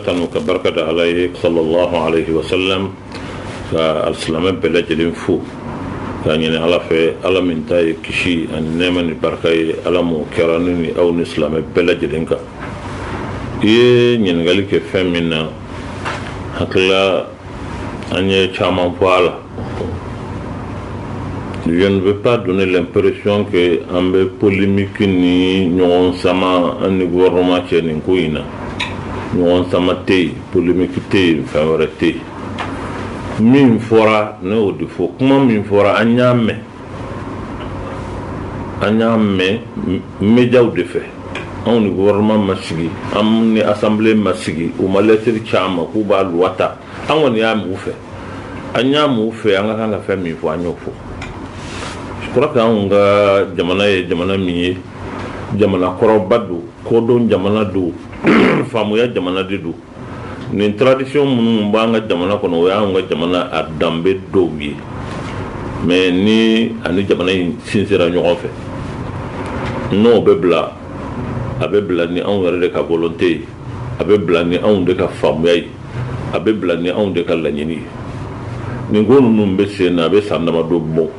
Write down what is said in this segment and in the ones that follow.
tanu ka barika da ala ye sallallahu alaihi wa sallam ka alsilamɛ bɛɛ lajɛlen fo k'a ɲini ala fɛ ala min ta ye kisi ani nɛɛma ni barika ye ala m'o kɛra ne ni aw ni silamɛ bɛɛ lajɛlen kan i ye ɲininkali kɛ fɛn min na hakilila An ye caman fɔ a la. Je ne veux pas donner l'impression que an bɛ polémique ni ɲɔgɔn sama an ni gouvernement cɛ nin ko in na. Ɲɔgɔn sama tɛ yen, polémique tɛ yen, fɛn wɛrɛ tɛ yen. Min fɔra ne y'o de fɔ, kuma min fɔra an y'a mɛn. an y'a mɛn médiaw de fɛ anw ni gouvernement ma sigi an ni assemblée ma sigi u ma lettre ci an ma k'u b'a loi ta an kɔni y'a mɛn u fɛ an y'a mɛn u fɛ an ka kan ka fɛn min fɔ an y'o fɔ je crois que anw ka jamana ye jamana min ye jamana kɔrɔba don kodɔn jamana don faamuya jamana de don nin tradition minnu b'an ka jamana kɔnɔ o y'an ka jamana a danbe dɔw ye mais nin ani jamana in sinsera ɲɔgɔn fɛ n'o bɛ bila a bɛ bila ni anw yɛrɛ de ka volonté ye a bɛ bila ni anw de ka faamuya ye a bɛ bila ni anw de ka laɲini ye nin ko ninnu bɛ sen na a bɛ san damadɔ bɔ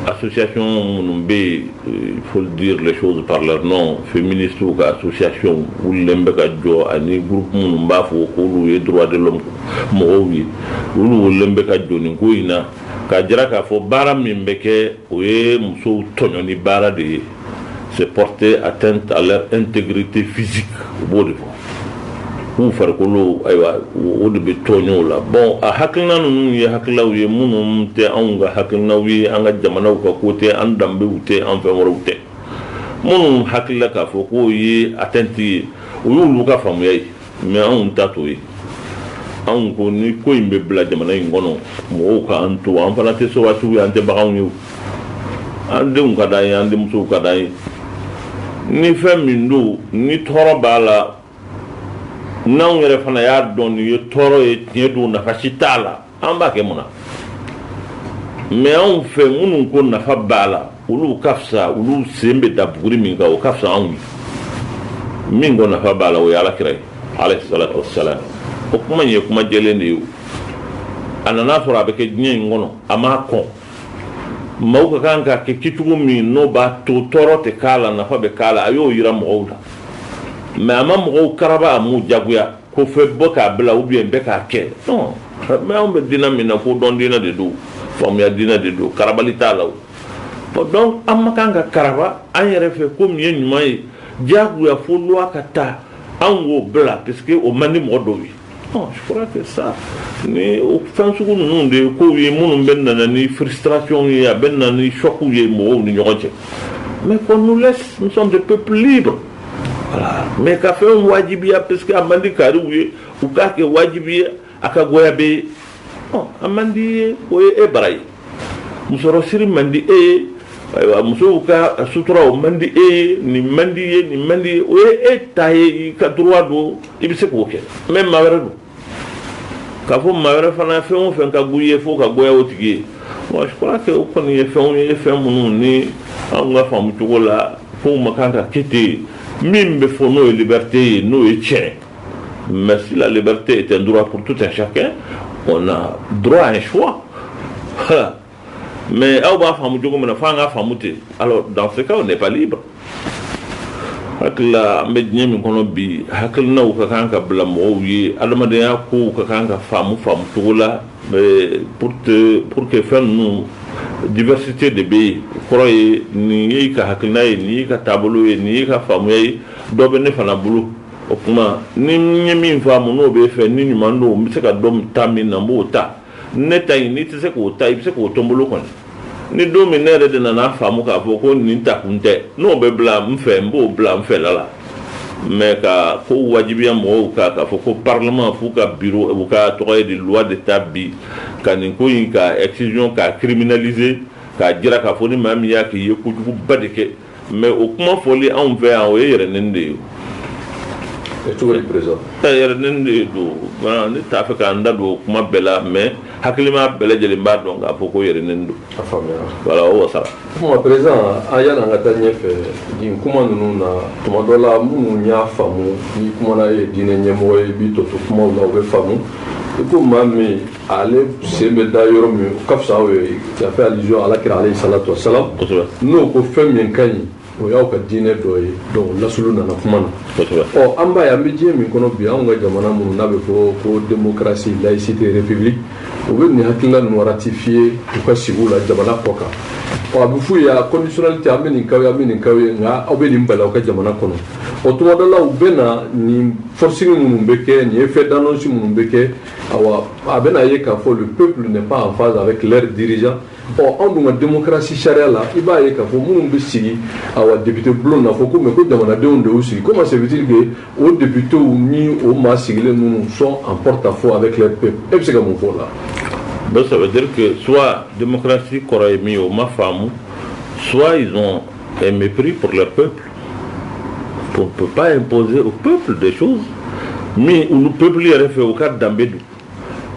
Association minnu bɛ yen il faut dire les choses par leur nom féministew ka association wulilen bɛ ka jɔ ani groupe minnu b'a fɔ k'olu ye droit de l'homme mɔgɔw ye olu wulilen bɛ ka jɔ nin ko in na k'a jira k'a fɔ baara min bɛ kɛ o ye musow tɔɲɔni baara de ye c'est porter atteinte à leur intégrité physique u b'o de fɔ k'u farikolo ayiwa o de bɛ tɔɲɔ la bon a hakilina ninnu ye hakililaw ye minnu tɛ anw ka hakilinaw ye an ka jamanaw ka ko tɛ an danbew tɛ an fɛn wɛrɛw tɛ minnu hakili la k'a fɔ k'o ye atteinte ye o y'olu ka faamuya ye mais anw ta t'o ye anw ko ni ko in bɛ bila jamana in kɔnɔ mɔgɔw ka an to an fana tɛ sowasiw ye an tɛ baganw ye an denw ka d'an ye an denmusow ka d'an ye ni fɛn min don ni tɔɔrɔ b'a la n'anw yɛrɛ fana y'a dɔn nin ye tɔɔrɔ ye tiɲɛ don nafa si t'a la an b'a kɛ mun na mais anw fɛ minnu ko nafa b'a la olu ka fisa olu sen bɛ da buguri min kan o ka fisa anw ye min ko nafa b'a la o ye ala kira ye alaihi salam o kuma ye kuma jɛlen de ye a nan'a sɔrɔ a bɛ kɛ diɲɛ in kɔnɔ a m'a kɔn maaw ka kan k'a kɛ kɛcogo min n'o b'a to tɔɔrɔ tɛ k'a la nafa bɛ k'a la a y'o jira mɔgɔw la mais a ma mɔgɔw karaba a m'u jagoya Ko fɛ bɔ k'a bila u bɛ bɛ k'a kɛ mais anw bɛ diinɛ min na kodɔn diinɛ de don faamuya diinɛ de don kara t'a la donc an ma kan ka kara an yɛrɛ fɛ ko min ye ɲuman ye diyagoya fo don ka taa an k'o bila parce que o man di mɔgɔ dɔw ye tɛ sa ni fɛn sugu ninnu de ye ko ye minnu bɛ na ni siracw ye a bɛ na ni suw ye mɔgɔw ni ɲɔgɔn cɛ mais ko n'u la nisɔn tɛ pep don mais ka fɛn wajibiya parce que a man di kariw ye u k'a kɛ wajibi ye a ka goya bɛɛ ye a man di i ye o ye e bara ye musɔrɔsiri man di e ye ayiwa musow ka sutura o man di e ye nin man di i ye nin man di i ye o ye e ta ye i ka droit don i bɛ se k'o kɛ mais maa wɛrɛ don k'a fɔ maa wɛrɛ fana ye fɛn o fɛn ka go i ye fo o ka goya o tigi ye wa je crois que o kɔni ye fɛnw ye fɛn minnu ni anw ka faamu cogo la fɛnw ma kan ka kɛ ten min bɛ fɔ n'o ye liberté ye n'o ye tiɲɛ mais si la liberté est un droit pour tout un chacun on a droit à un choix mais aw b'a faamu cogo min na fo an ka faamu ten alors dans ce cas on n'est pas libre hakilila an bɛ diɲɛ min kɔnɔ bi hakilinaw ka kan ka bila mɔgɔw ye adamadenya kow ka kan ka faamu faamu cogo la pour te pour que fɛn ninnu diversité de bɛ yen kɔrɔ ye nin y'i ka hakilina ye nin y'i ka taabolo ye nin y'i ka faamuya ye dɔ bɛ ne fana bolo o tuma ni n ye min faamu n'o b'e fɛ ni ɲuman don n bɛ se ka dɔ ta min na n b'o ta ne ta in n'i tɛ se k'o ta i bɛ se k'o to n bolo kɔni ni don min ne yɛrɛ de nana faamu k'a fɔ ko nin ta kun tɛ n'o bɛ bila n fɛ n b'o bila n fɛla la mais ka ko wajibiya mɔgɔw kan k'a fɔ ko parlement f'u ka bi u ka projet de loi de ta bi ka nin ko in ka excision k'a criminaliser k'a jira k'a fɔ ni maa min y'a k'i ye kojuguba de kɛ Mais o kuma fɔli anw fɛ yan o ye yɛrɛnɛgɛn de ye de don ne t'a fɛ ka n da don o kuma bɛɛ la mais hakilima bɛɛ lajɛlen b'a dɔn k'a fɔ ko yɛrɛnɛgɛn don sa prez a yala an ka taa ɲɛ fɛ nin kuma ninnu na tuma dɔ la minnu y'a faamu ni kuma ye diinɛ ɲɛmɔgɔ ye bi to to kuma la u bɛ faamu i ko maa min ale sen bɛ da yɔrɔ min ka fisa aw ye yafe alijo ala kira aleyi salatu wa salamu n'o ko fɛn min ka ɲi o y'aw ka diinɛ dɔ ye dɔnku laslu nana kuma na ɔ an ba an bɛ diɲɛ min kɔnɔ bi anw ka jamana minnu n'a bɛ fɔ ko démocratie laïcité libéral u bɛ nin hakilila nɔgɔyati fi ye u ka sigi la jamana kɔ kan ɔ a bɛ fɔ yan kɔmisiliti an bɛ ninkaw an bɛ ninkaw ye nka aw bɛ nin bala aw ka jamana kɔnɔ o tuma dɔ la u bɛ na nin forosi minnu bɛ kɛ nin ye fɛn dansi minnu bɛ kɛ awa a bɛna ye k'a fɔ le peuple n'est pas en phase avec leur dirigeant ɔ anw dun ka démocratie sariya la i b'a ye k'a fɔ minnu bɛ sigi awa député bulon na fɔ ko mais ko jamanadenw de y'u sigi comment se fait-il que o députés ni o maa sigilen ninnu sont en porte-à-faux avec leur peuple e bɛ se ka mun fɔ o la donc ça veut dire que soit démocratie kɔrɔ ye min ye o ma faamu soit ils ont un mépris pour leur peuple On ne peut pas imposer au peuple des choses minnu don peuple yɛrɛ fɛ o ka danbe don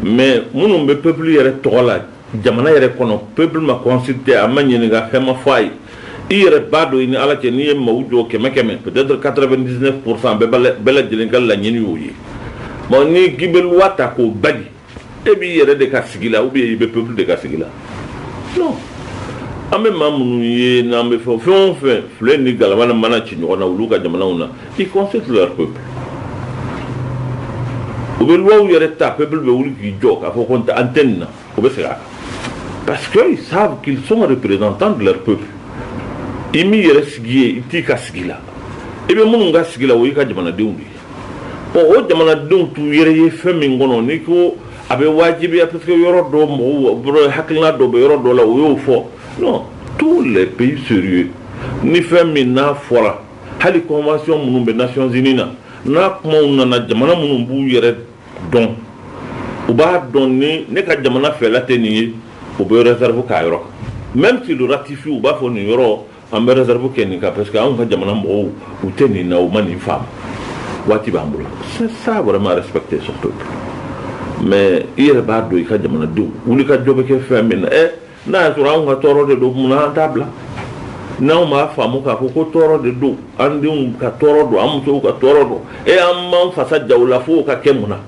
mais minnu bɛ peuple yɛrɛ tɔgɔ la jamana yɛrɛ kɔnɔ peuple ma consulté a ma ɲininka fɛn ma fɔ a ye i yɛrɛ b'a dɔn i ni ala cɛ n'i ye maaw jɔ kɛmɛ kɛmɛ peut-être 99 pourcent bɛɛ lajɛlen ka laɲini y'o ye bon n'i k'i bɛ loi ta k'o bali e b'i yɛrɛ de ka sigi la ou bien i bɛ peuple de ka sigi la non an bɛ maa minnu ye n'an bɛ fɛn fɛn o fɛn filen ni galama ni mana ci ɲɔgɔn na olu ka jamanaw na ils consultent leur peuple u bɛ lois yɛrɛ ta peuple bɛ wuli k'i jɔ k'a fɔ ko an tɛ nin na u bɛ segin a kan parce que ils savent qu'ils sont représentants de leur peuple i m'i yɛrɛ sigi yen i t'i ka sigi la i bɛ minnu ka sigi la o y'i ka jamanadenw de ye Bon o jamanadenw t'u yɛrɛ ye fɛn min kɔnɔ n'i ko a bɛ wajibiya parce que yɔrɔ dɔ mɔgɔw hakilina dɔ bɛ yɔrɔ dɔ la o y'o fɔ non tous les pays sérieux ni fɛn min n'a fɔra hali convention minnu bɛ Nations Unies na n'a kumaw nana jamana minnu b'u yɛrɛ dɔn u b'a dɔn ni ne ka jamana fɛla tɛ nin ye u bɛ réserve k'a yɔrɔ kan même s'ils le ratifient u b'a fɔ nin yɔrɔ An bɛ réserve kɛ nin kan parce que anw ka jamana mɔgɔw u tɛ nin na, u ma nin faamu, waati b'an bolo c'est ça vraiment respecter son peuple mais i yɛrɛ b'a dɔn i ka jamanadenw wulikajɔ bɛ kɛ fɛn min na ɛ n'a y'a sɔrɔ anw ka tɔɔrɔ de don munna an t'a bila n'anw m'a faamu k'a fɔ ko tɔɔrɔ de don an denw ka tɔɔrɔ don an musow ka tɔɔrɔ don e an m'an fasa ja u la fo o ka kɛ mun na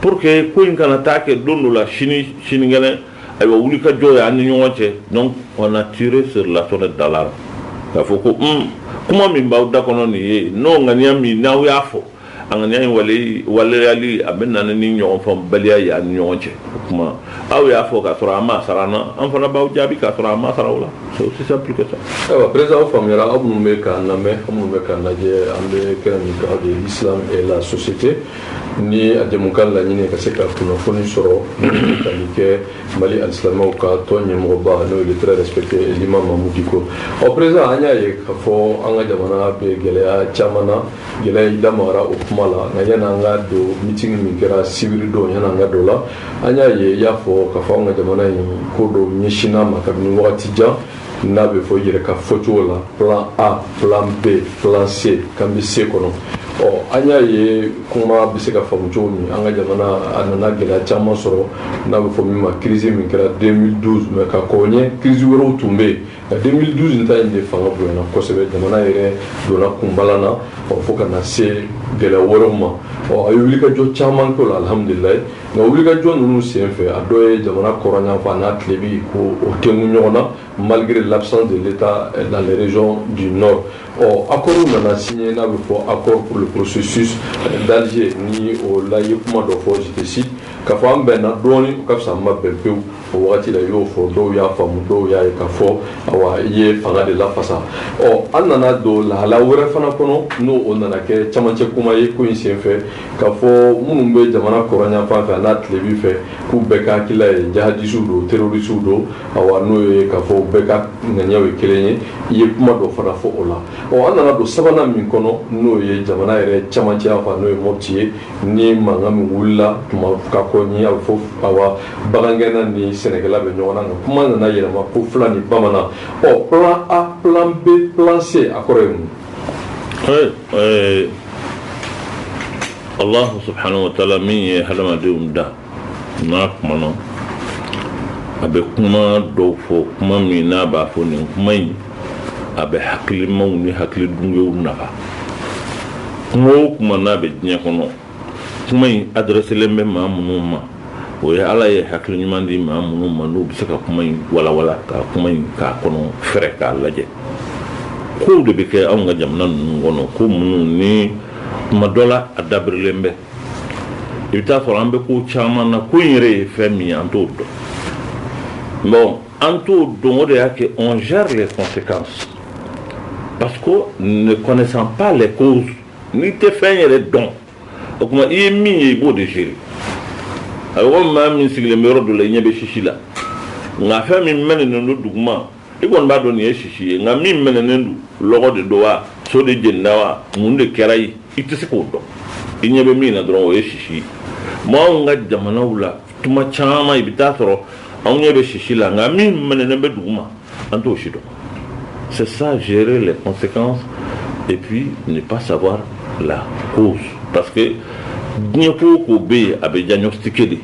Pour que ko in kana taa kɛ don dɔ la sini sinikɛnɛ ayiwa wulikajɔ ye an ni ɲɔgɔn cɛ donc on a tiré sur la sonnette d'alarme k'a fɔ ko un kuma min b'aw da kɔnɔ nin ye n'o ŋaniya min n'aw y'a fɔ a ŋaniya in wale waleyali a bɛ na ni ɲɔgɔnfaamubaliya ye an ni ɲɔgɔn cɛ o tuma aw y'a fɔ k'a sɔrɔ aw m'a sara an na an fana b'aw jaabi k'a sɔrɔ an m'a sara aw la c'est aussi simple que ça. ayiwa président aw faamuyara aw minnu bɛ k'an lamɛn aw minnu bɛ k'an lajɛ an bɛ kɛnɛ min kan o de ye l'islam et la société ni a jɛmukan laɲini ka se ka kunnafoni sɔrɔ tali kɛ mali alisilamaw ka tɔn ɲɛmɔgɔba n'o ye le très respecté l'imam mahmoud dicko ɔ président an y'a ye k'a fɔ an ka jamana bɛ gɛlɛya caman na gɛlɛya i da magara o kuma la nka yani an ka don meeting min kɛra sibiri don yani an ka don o la an y'a ye i y'a fɔ k'a fɔ an ka jamana in ko dɔ ɲɛsinn'a ma kabini wagati jan n'a bɛ fɔ i yɛrɛ ka fɔcogo la plan a plan b plan c k'an bɛ c kɔnɔ ɔ an y'a ye kuma bɛ se ka faamu cogo min an ka jamana a nana gɛlɛya caman sɔrɔ n'a bɛ fɔ min ma kirisi min kɛra 2012 mais ka kɔn o ɲɛ kirisi wɛrɛw tun bɛ yen nka 2012 ta in de fanga bonyana kosɛbɛ jamana yɛrɛ donna kunbalan na ɔ fo ka na se gɛlɛya wɛrɛw ma ɔ a ye wulikajɔ caman kɛ o la alhamdulilayi Nka wuli ka jɔn ninnu sen fɛ a dɔw ye jamana kɔrɔnyanfa n'a tilebi ko o te ɲɔgɔn na malikiri lapsɔn de bɛ taa larez bi nɔ ɔ a kɔrɔ nana sin ye n'a bɛ fɔ a kɔrɔorosusu daze ni o layi kuma dɔ fɔsi ka fɔ an bɛnna dɔɔnin ka fisa ma bɛn pewu o wagati la i y'o fɔ dɔw y'a faamu dɔw y'a ye ka fɔ awa i ye fanga de lafasa ɔ an nana don lahala wɛrɛ fana kɔnɔ n'o o nana kɛ camancɛ kuma ye ko in senfɛ k'a fɔ minnu bɛ jamana kɔrɔnyanfan fɛ an'a tilebi fɛ k'u bɛɛ ka hakilila ye jahadisiw don terorisiw don awa n'o ye k'a fɔ bɛɛ ka ŋaniyaw ye kelen ye i ye kuma dɔ fana fɔ o la ɔ an nana don sabanan min kɔnɔ n'o ye jamana yɛrɛ camancɛ yanfan n'o ye mɔpti ye ni mankan min wulila tuma ka kɔn o ɲɛ a bɛ fɔ awa bagangɛnna ni sɛnɛkɛla bɛ ɲɔgɔn na nka kuma nana yɛlɛma ko fula ni bamanan ɔ plan a plan b plan c a kɔrɔ ye mun allah subhanahu wa taala min ye hadamadenw da n'a kumana a bɛ kuma dɔw fɔ kuma min n'a b'a fɔ nin kuma in a bɛ hakilimaw ni hakili dungew nafa kuma o kuma n'a bɛ diɲɛ kɔnɔ kuma in adrɛselen bɛ maa minnu ma o ye ala ye hakili ɲuman di maa minnu ma n'u bɛ se ka kuma in walawala ka kuma in k'a kɔnɔ fɛɛrɛ k'a lajɛ kow de bɛ kɛ anw ka jamana ninnu kɔnɔ ko minnu ni kuma dɔ la a dabirilen bɛ i bɛ taa sɔrɔ an bɛ ko caman na ko in yɛrɛ ye fɛn min ye an t'o dɔn bon an t'o dɔn o de y'a kɛ on gère les conséquences parce que ne connaissant pas les causes n'i tɛ fɛn yɛrɛ dɔn o tuma i ye min ye i b'o de gérer a bɛ komi maa min sigilen bɛ yɔrɔ dɔ la i ɲɛ bɛ sisi la nka fɛn min mɛnɛnen don duguma i kɔni b'a dɔn nin ye sisi ye nka min mɛnɛnen don lɔgɔ de don wa so de jenina wa mun de kɛra ye i tɛ se k'o dɔn i ɲɛ bɛ min na dɔrɔn o ye sisi ye anw ka jamanaw la tuma caman i bɛ taa sɔrɔ anw ɲɛ bɛ sisi la nka min mɛnɛnen bɛ duguma an t'o si dɔn c'est ça gérer les conséquences et puis ne pas savoir la cause parce que diɲɛ ko o ko bɛ yen a bɛ diagnostiquer de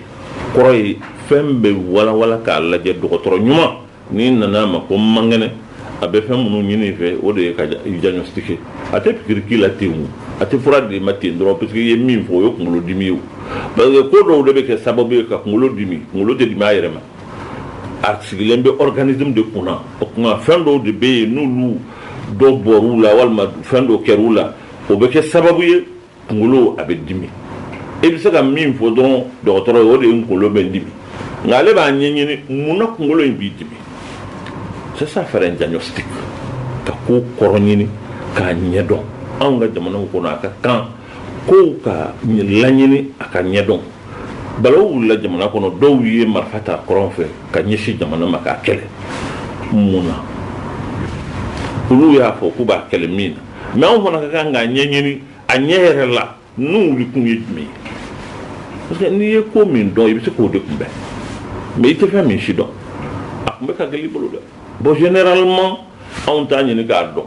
kɔrɔ ye fɛn bɛ walawala k'a lajɛ dɔgɔtɔrɔ ɲuman N'i nana a ma ko man kɛnɛ a bɛ fɛn minnu ɲini i fɛ o de ye k'i diagnostiquer a tɛ pikiri k'i la ten a tɛ fura d'i ma ten dɔrɔn parce qu'i ye min fɔ o ye kunkolo dimi ye ba ko dɔw de bɛ kɛ sababu ye ka kunkolo dimi kunkolo de b'a yɛrɛ ma a sigilen bɛ organisme de kun na o tuma fɛn dɔw de bɛ yen n'olu dɔw bɔra a la walima fɛn dɔw kɛra u la o bɛ kɛ sababu ye kunkolo a bɛ dimi e bɛ se ka min fɔ dɔrɔn dɔgɔtɔrɔ ye o de ye kunkolo bɛ dimi nka ale b'a ɲɛɲini mun na kunkolo in b'i dimi sisan faire diagnostic ka ko kɔrɔ ɲini k'a ɲɛdɔn anw ka jamanaw kɔnɔ a ka kan kow ka laɲini a ka ɲɛdɔn balawu wulila jamana kɔnɔ dɔw ye marifa ta kɔrɔn fɛ ka ɲɛsin jamana ma k'a kɛlɛ mun na olu y'a fɔ k'u b'a kɛlɛ min na mais anw fana ka kan k'a ɲɛɲini a ɲɛ yɛrɛ la n'u wuli kun ye jumɛn ye parce que n'i ye ko min dɔn i bɛ se k'o de kunbɛn mais i tɛ fɛn min sidɔn a kunbɛn ka gɛlɛn i bolo dɛ bon généralement anw t'a ɲini k'a dɔn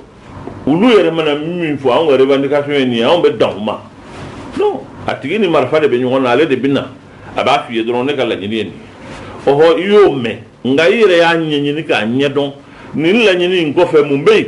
olu yɛrɛ mana min fɔ anw ka revendication ye nin ye anw bɛ dan o ma non a tigi ni marifa de bɛ ɲɔgɔn na ale de bɛ na a b'a f'i ye dɔrɔn ne ka laɲini ye nin ye ɔhɔ i y'o mɛn nka i yɛrɛ y'a ɲɛɲini k'a ɲɛdɔn nin laɲini in kɔfɛ mun bɛ yen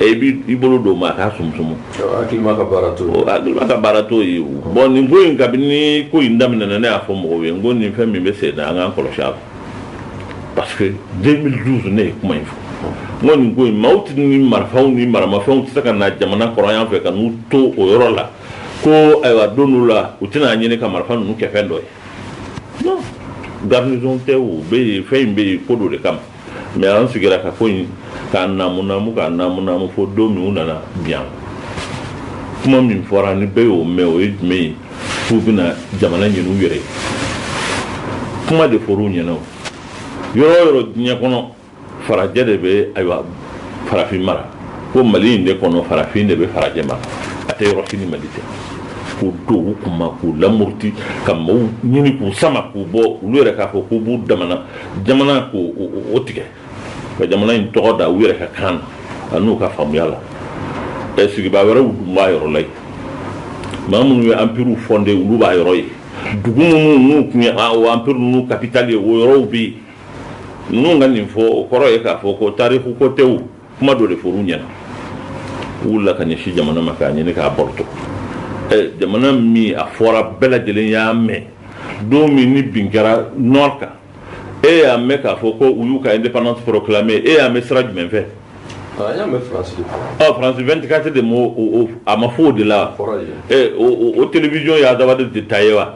i bɛ i bolo don ma a k'a sumumu ka baara to ye bon nin ko in kabini ko in daminɛ ne y'a fɔ mɔgɔw ye ko nin fɛn min bɛ sen na an k'a kɔlɔsi parce que deux mille douze ne ye kuma in fɔ ko nin ko in maaw tɛ ni marifaw ni maramafɛnw tɛ se ka na jamana kɔrɔn yan fɛ ka n'u to o yɔrɔ la ko ayiwa don la u tɛna n'a ɲini ka marifa ninnu kɛ fɛn dɔ ye garanti bɛ yen fɛn in bɛ yen ko don de kama mais an sigira ka ko in k'a namunamu k'a namunamu fo don min u nana biyan kuma min fɔra ni bɛɛ y'o mɛn o ye jumɛn ye k'u bɛna jamana ɲin'u yɛrɛ kuma de fɔr'u ɲɛna ko yɔrɔ o yɔrɔ diɲɛ kɔnɔ farajɛ de bɛ ayiwa farafin mara ko mali in de kɔnɔ farafin de bɛ farajɛ mara a tɛ yɔrɔ si ni mali tɛ k'o don u kun na k'u lamuruti ka mɔɔw ɲini k'u sama k'u bɔ olu yɛrɛ k'a fɔ k'u b'u damana jamana k'o tigɛ ka jamana in tɔgɔ da u yɛrɛ ka kan na n'u ka faamuya la ɛ sigibaa wɛrɛw dun b'a yɔrɔ la yen maa minnu ye anpiriw fɔnde olu b'a yɔrɔ yen dugu minnu n'u tun ye o anpiri ninnu kapitali ye o yɔrɔw bɛ yen ninnu ka nin fɔ o kɔrɔ ye k'a fɔ ko tariku ko tɛw kuma dɔ de fɔr'u ɲɛna u wulila ka ɲɛsin jamana ma k'a ɲini k'a baroto jamana min a fɔra bɛɛ lajɛlen y'a mɛn don min ni bin kɛra nord kan e y'a mɛn k'a fɔ ko u y'u ka indépendance proclamé e y'a mɛn sira jumɛn fɛ France 24 de a ma fɔ o de la wa o télévision ye Azawad de ta ye wa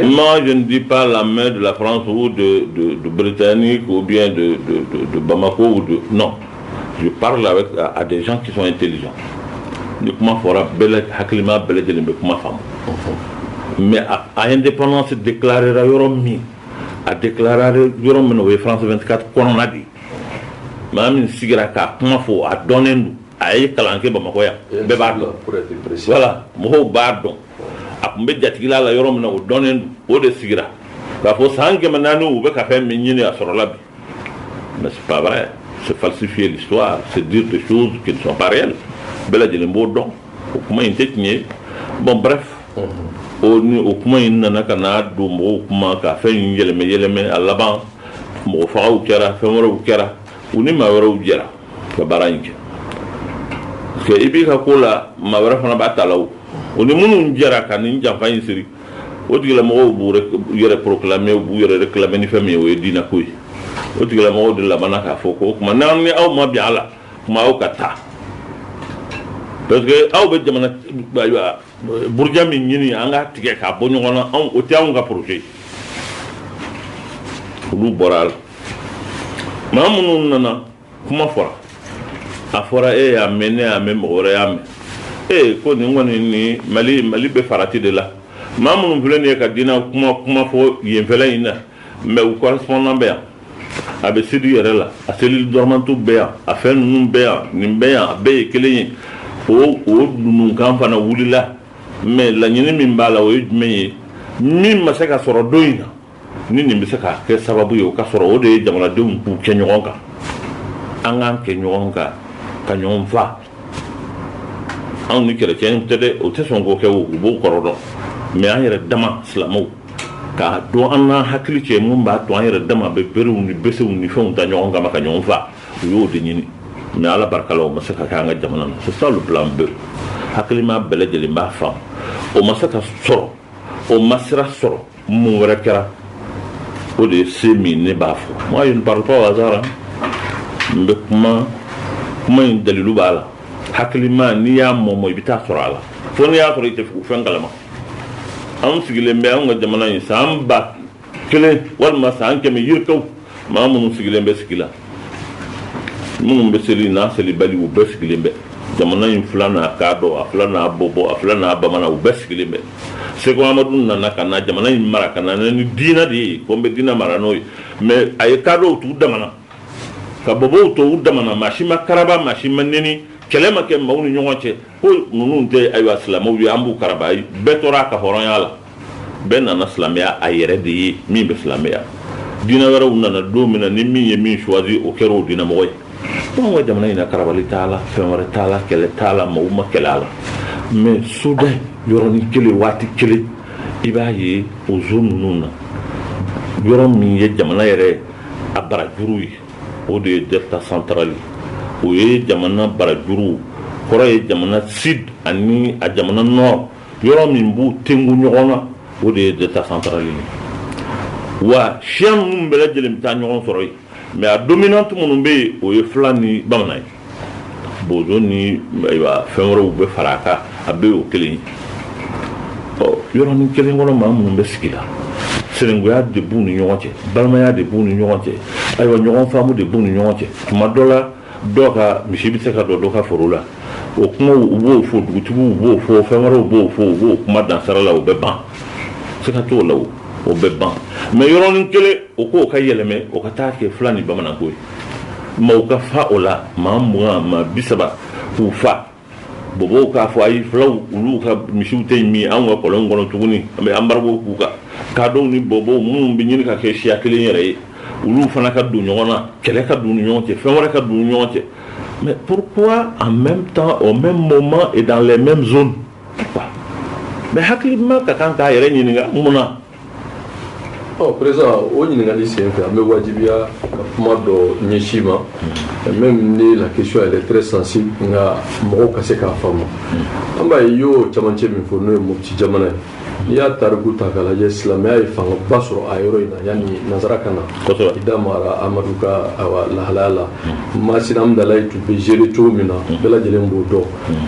Moi je ne dis pas la main de la France ou de, de, de Britannique ou bien de, de, de Bamako ou de non je parle avec à, à des gens qui sont intelligents ni kuma fɔra bɛɛ la hakilima bɛɛ lajɛlen bɛ kuma faamu mais a, a indépendance déclarera yɔrɔ min a déclarera yɔrɔ min o ye France 24 kɔnɔna de ye maa min sigira k'a kuma fɔ a dɔnnen don a ye kalan kɛ bamakɔ yan bɛɛ b'a dɔn wala mɔgɔw b'a dɔn a tun bɛ jatigila la yɔrɔ min na o dɔnnen don o de sigira k'a fɔ san kɛmɛ naani u bɛ ka fɛn min ɲini a sɔrɔla bi mais c'est fa c'est falsifié se di de su kibareya bɛɛ lajɛlen b'o dɔn o kuma in tɛ tiɲɛ ye bon bref o ni o kuma in nana ka n'a don mɔgɔw kuma ka fɛn in yɛlɛmɛ yɛlɛmɛ a laban mɔgɔfagaw kɛra fɛn wɛrɛw kɛra u ni maa wɛrɛw jɛra ka baara in kɛ parce que i b'i ka ko la maa wɛrɛ fana b'a ta la o o ni minnu jɛra ka nin janfa in siri o tigilamɔgɔw b'u yɛrɛ proclamer u b'u yɛrɛ réclamer ni fɛn min ye o ye diinɛ ko ye o tigilamɔgɔw de labanna k'a fɔ ko o tuma n'an ni aw ma bɛn a la tuma aw ka taa parce que aw bɛ jamana ayiwa Buruja min ɲini an ka tigɛ k'a bɔ ɲɔgɔn na o tɛ anw ka projet olu bɔra a la maa minnu nana kuma fɔra a fɔra e y'a mɛn ne y'a mɛn mɔgɔ wɛrɛ y'a mɛn ee ko nin kɔni ni mali mali bɛ farati de la maa minnu filɛ nin ye ka diinɛ kuma kuma fɔ yenfɛ in na mais u ka sɔn bɛ yan a bɛ sud yɛrɛ la a cellule dormantew bɛ yan a fɛn ninnu bɛ yan nin bɛ yan a bɛɛ ye kelen ye o o dununkan fana wulila mais laɲini min b'a la o ye jumɛn ye min ma se ka sɔrɔ don in na ni nin bɛ se ka kɛ sababu ye o ka sɔrɔ o de ye jamanadenw k'u kɛ ɲɔgɔn kan an k'an kɛ ɲɔgɔn kan ka ɲɔgɔn faa anw ni kerecɛn tɛ dɛ o tɛ sɔn k'o kɛ u b'o kɔrɔ dɔn mais an yɛrɛ dama silamɛw k'a don an ka hakili cɛ min b'a to an yɛrɛ dama bɛ berew ni besew ni fɛnw ta ɲɔgɔn kama ka ɲɔgɔn faa u y'o de ɲini mais ala barika la o ma se ka kɛ an ka jamana na c'est ça le plan B hakilima bɛɛ lajɛlen b'a faamu o ma se ka sɔrɔ o ma sira sɔrɔ mun wɛrɛ kɛra o de ye se min ne b'a fɔ moi je ne parle pas au hasard n bɛ kuma kuma in dalilu b'a la hakilima n'i y'a mɔmɔ i bɛ t'a sɔrɔ a la fo n'i y'a sɔrɔ i tɛ fɛn kalama an sigilen bɛ an ka jamana in san ba kelen walima san kɛmɛ yirikaw maa minnu sigilen bɛ sigi la minnu bɛ seli n'a selibali u bɛɛ sigilen bɛ jamana in fula n'a kadɔ a fula n'a bɔbɔ a fula n'a bamanan u bɛɛ sigilen bɛ seku amadu nana ka na jamana in mara ka na ni diinɛ de ye ko n bɛ diinɛ mara n'o ye mais a ye kadɔw t'u dama na ka bɔbɔw to u dama na maa si ma karaba maa si ma neni kɛlɛ ma kɛ maaw ni ɲɔgɔn cɛ ko ninnu tɛ ayiwa silamɛw ye an b'u karaba bɛɛ tora a ka hɔrɔnya la bɛɛ nana silamɛya a yɛrɛ de ye min bɛ silamɛya diinɛ wɛrɛw nana don min na ni min ye min choisi o kɛra o diinɛmɔgɔ ye anw ka jamana in na karabali t'a la fɛn wɛrɛ t'a la kɛlɛ t'a la mɔgɔw ma kɛlɛ a la mais soudain yɔrɔnin kelen waati kelen i b'a ye o zone ninnu na yɔrɔ min ye jamana yɛrɛ a barajuru ye o de ye delta central o ye jamana barajuru kɔrɔ ye jamana sud ani a jamana nord yɔrɔ min b'u tugu ɲɔgɔn na o de ye delta central ye wa siya minnu bɛɛ lajɛlen bɛ taa ɲɔgɔn sɔrɔ yen mais a dominante minnu bɛ yen o ye fula ni bamanan ye bozo ni fɛn wɛrɛ bɛ fara a kan a bɛ oo kelen yɔrɔnin kelen kɔnɔ maa minnu bɛ sigi la sinjiya de b'u ni ɲɔgɔn cɛ balimaya de b'u ni ɲɔgɔn cɛ ayiwa ɲɔgɔn faamu de b'u ni ɲɔgɔn cɛ tuma dɔ la dɔw ka misi bɛ se ka don dɔ ka foro la o kuma u b'o fɔ dugutigi b'o fɔ fɛn wɛrɛw b'o fɔ u b'o kuma dansara la u bɛ ban se ka t'o la o bɛ ban mais yɔrɔnin kelen o ko ka yɛlɛma o ka taa kɛ fula ni bamananko ye mɔgɔw ka fa o la maa mugan maa bi saba k'u fa bɔbɔw k'a fɔ ayi fulaw olu ka misiw tɛ min an ka kɔlɔn kɔnɔ tuguni an bɛ embargo k'u kan kadɔw ni bɔbɔ minnu bɛ ɲini ka kɛ siya kelen yɛrɛ ye olu fana ka don ɲɔgɔn na kɛlɛ ka don ɲɔgɔn cɛ fɛn wɛrɛ ka don ɲɔgɔn cɛ mais pour en même temps au même moment et dans même hakilima ka kan k'a yɛrɛ ɲininka mun na ɔ présent o ɲininkali sen fɛ an bɛ wajibiya ka kuma dɔ ɲɛsin i ma même ni la question elle est très sensible nka mɔgɔw ka se k'a faamu an b'a ye i y'o camancɛ min fɔ n'o ye mopti jamana ye n'i y'a tariku ta k'a lajɛ silamɛya ye fangaba sɔrɔ a yɔrɔ in na yanni nansara ka na i da mara amadu ka awa lahalaya la masina hamdalayi tun bɛ géré cogo min na bɛɛ lajɛlen b'o dɔn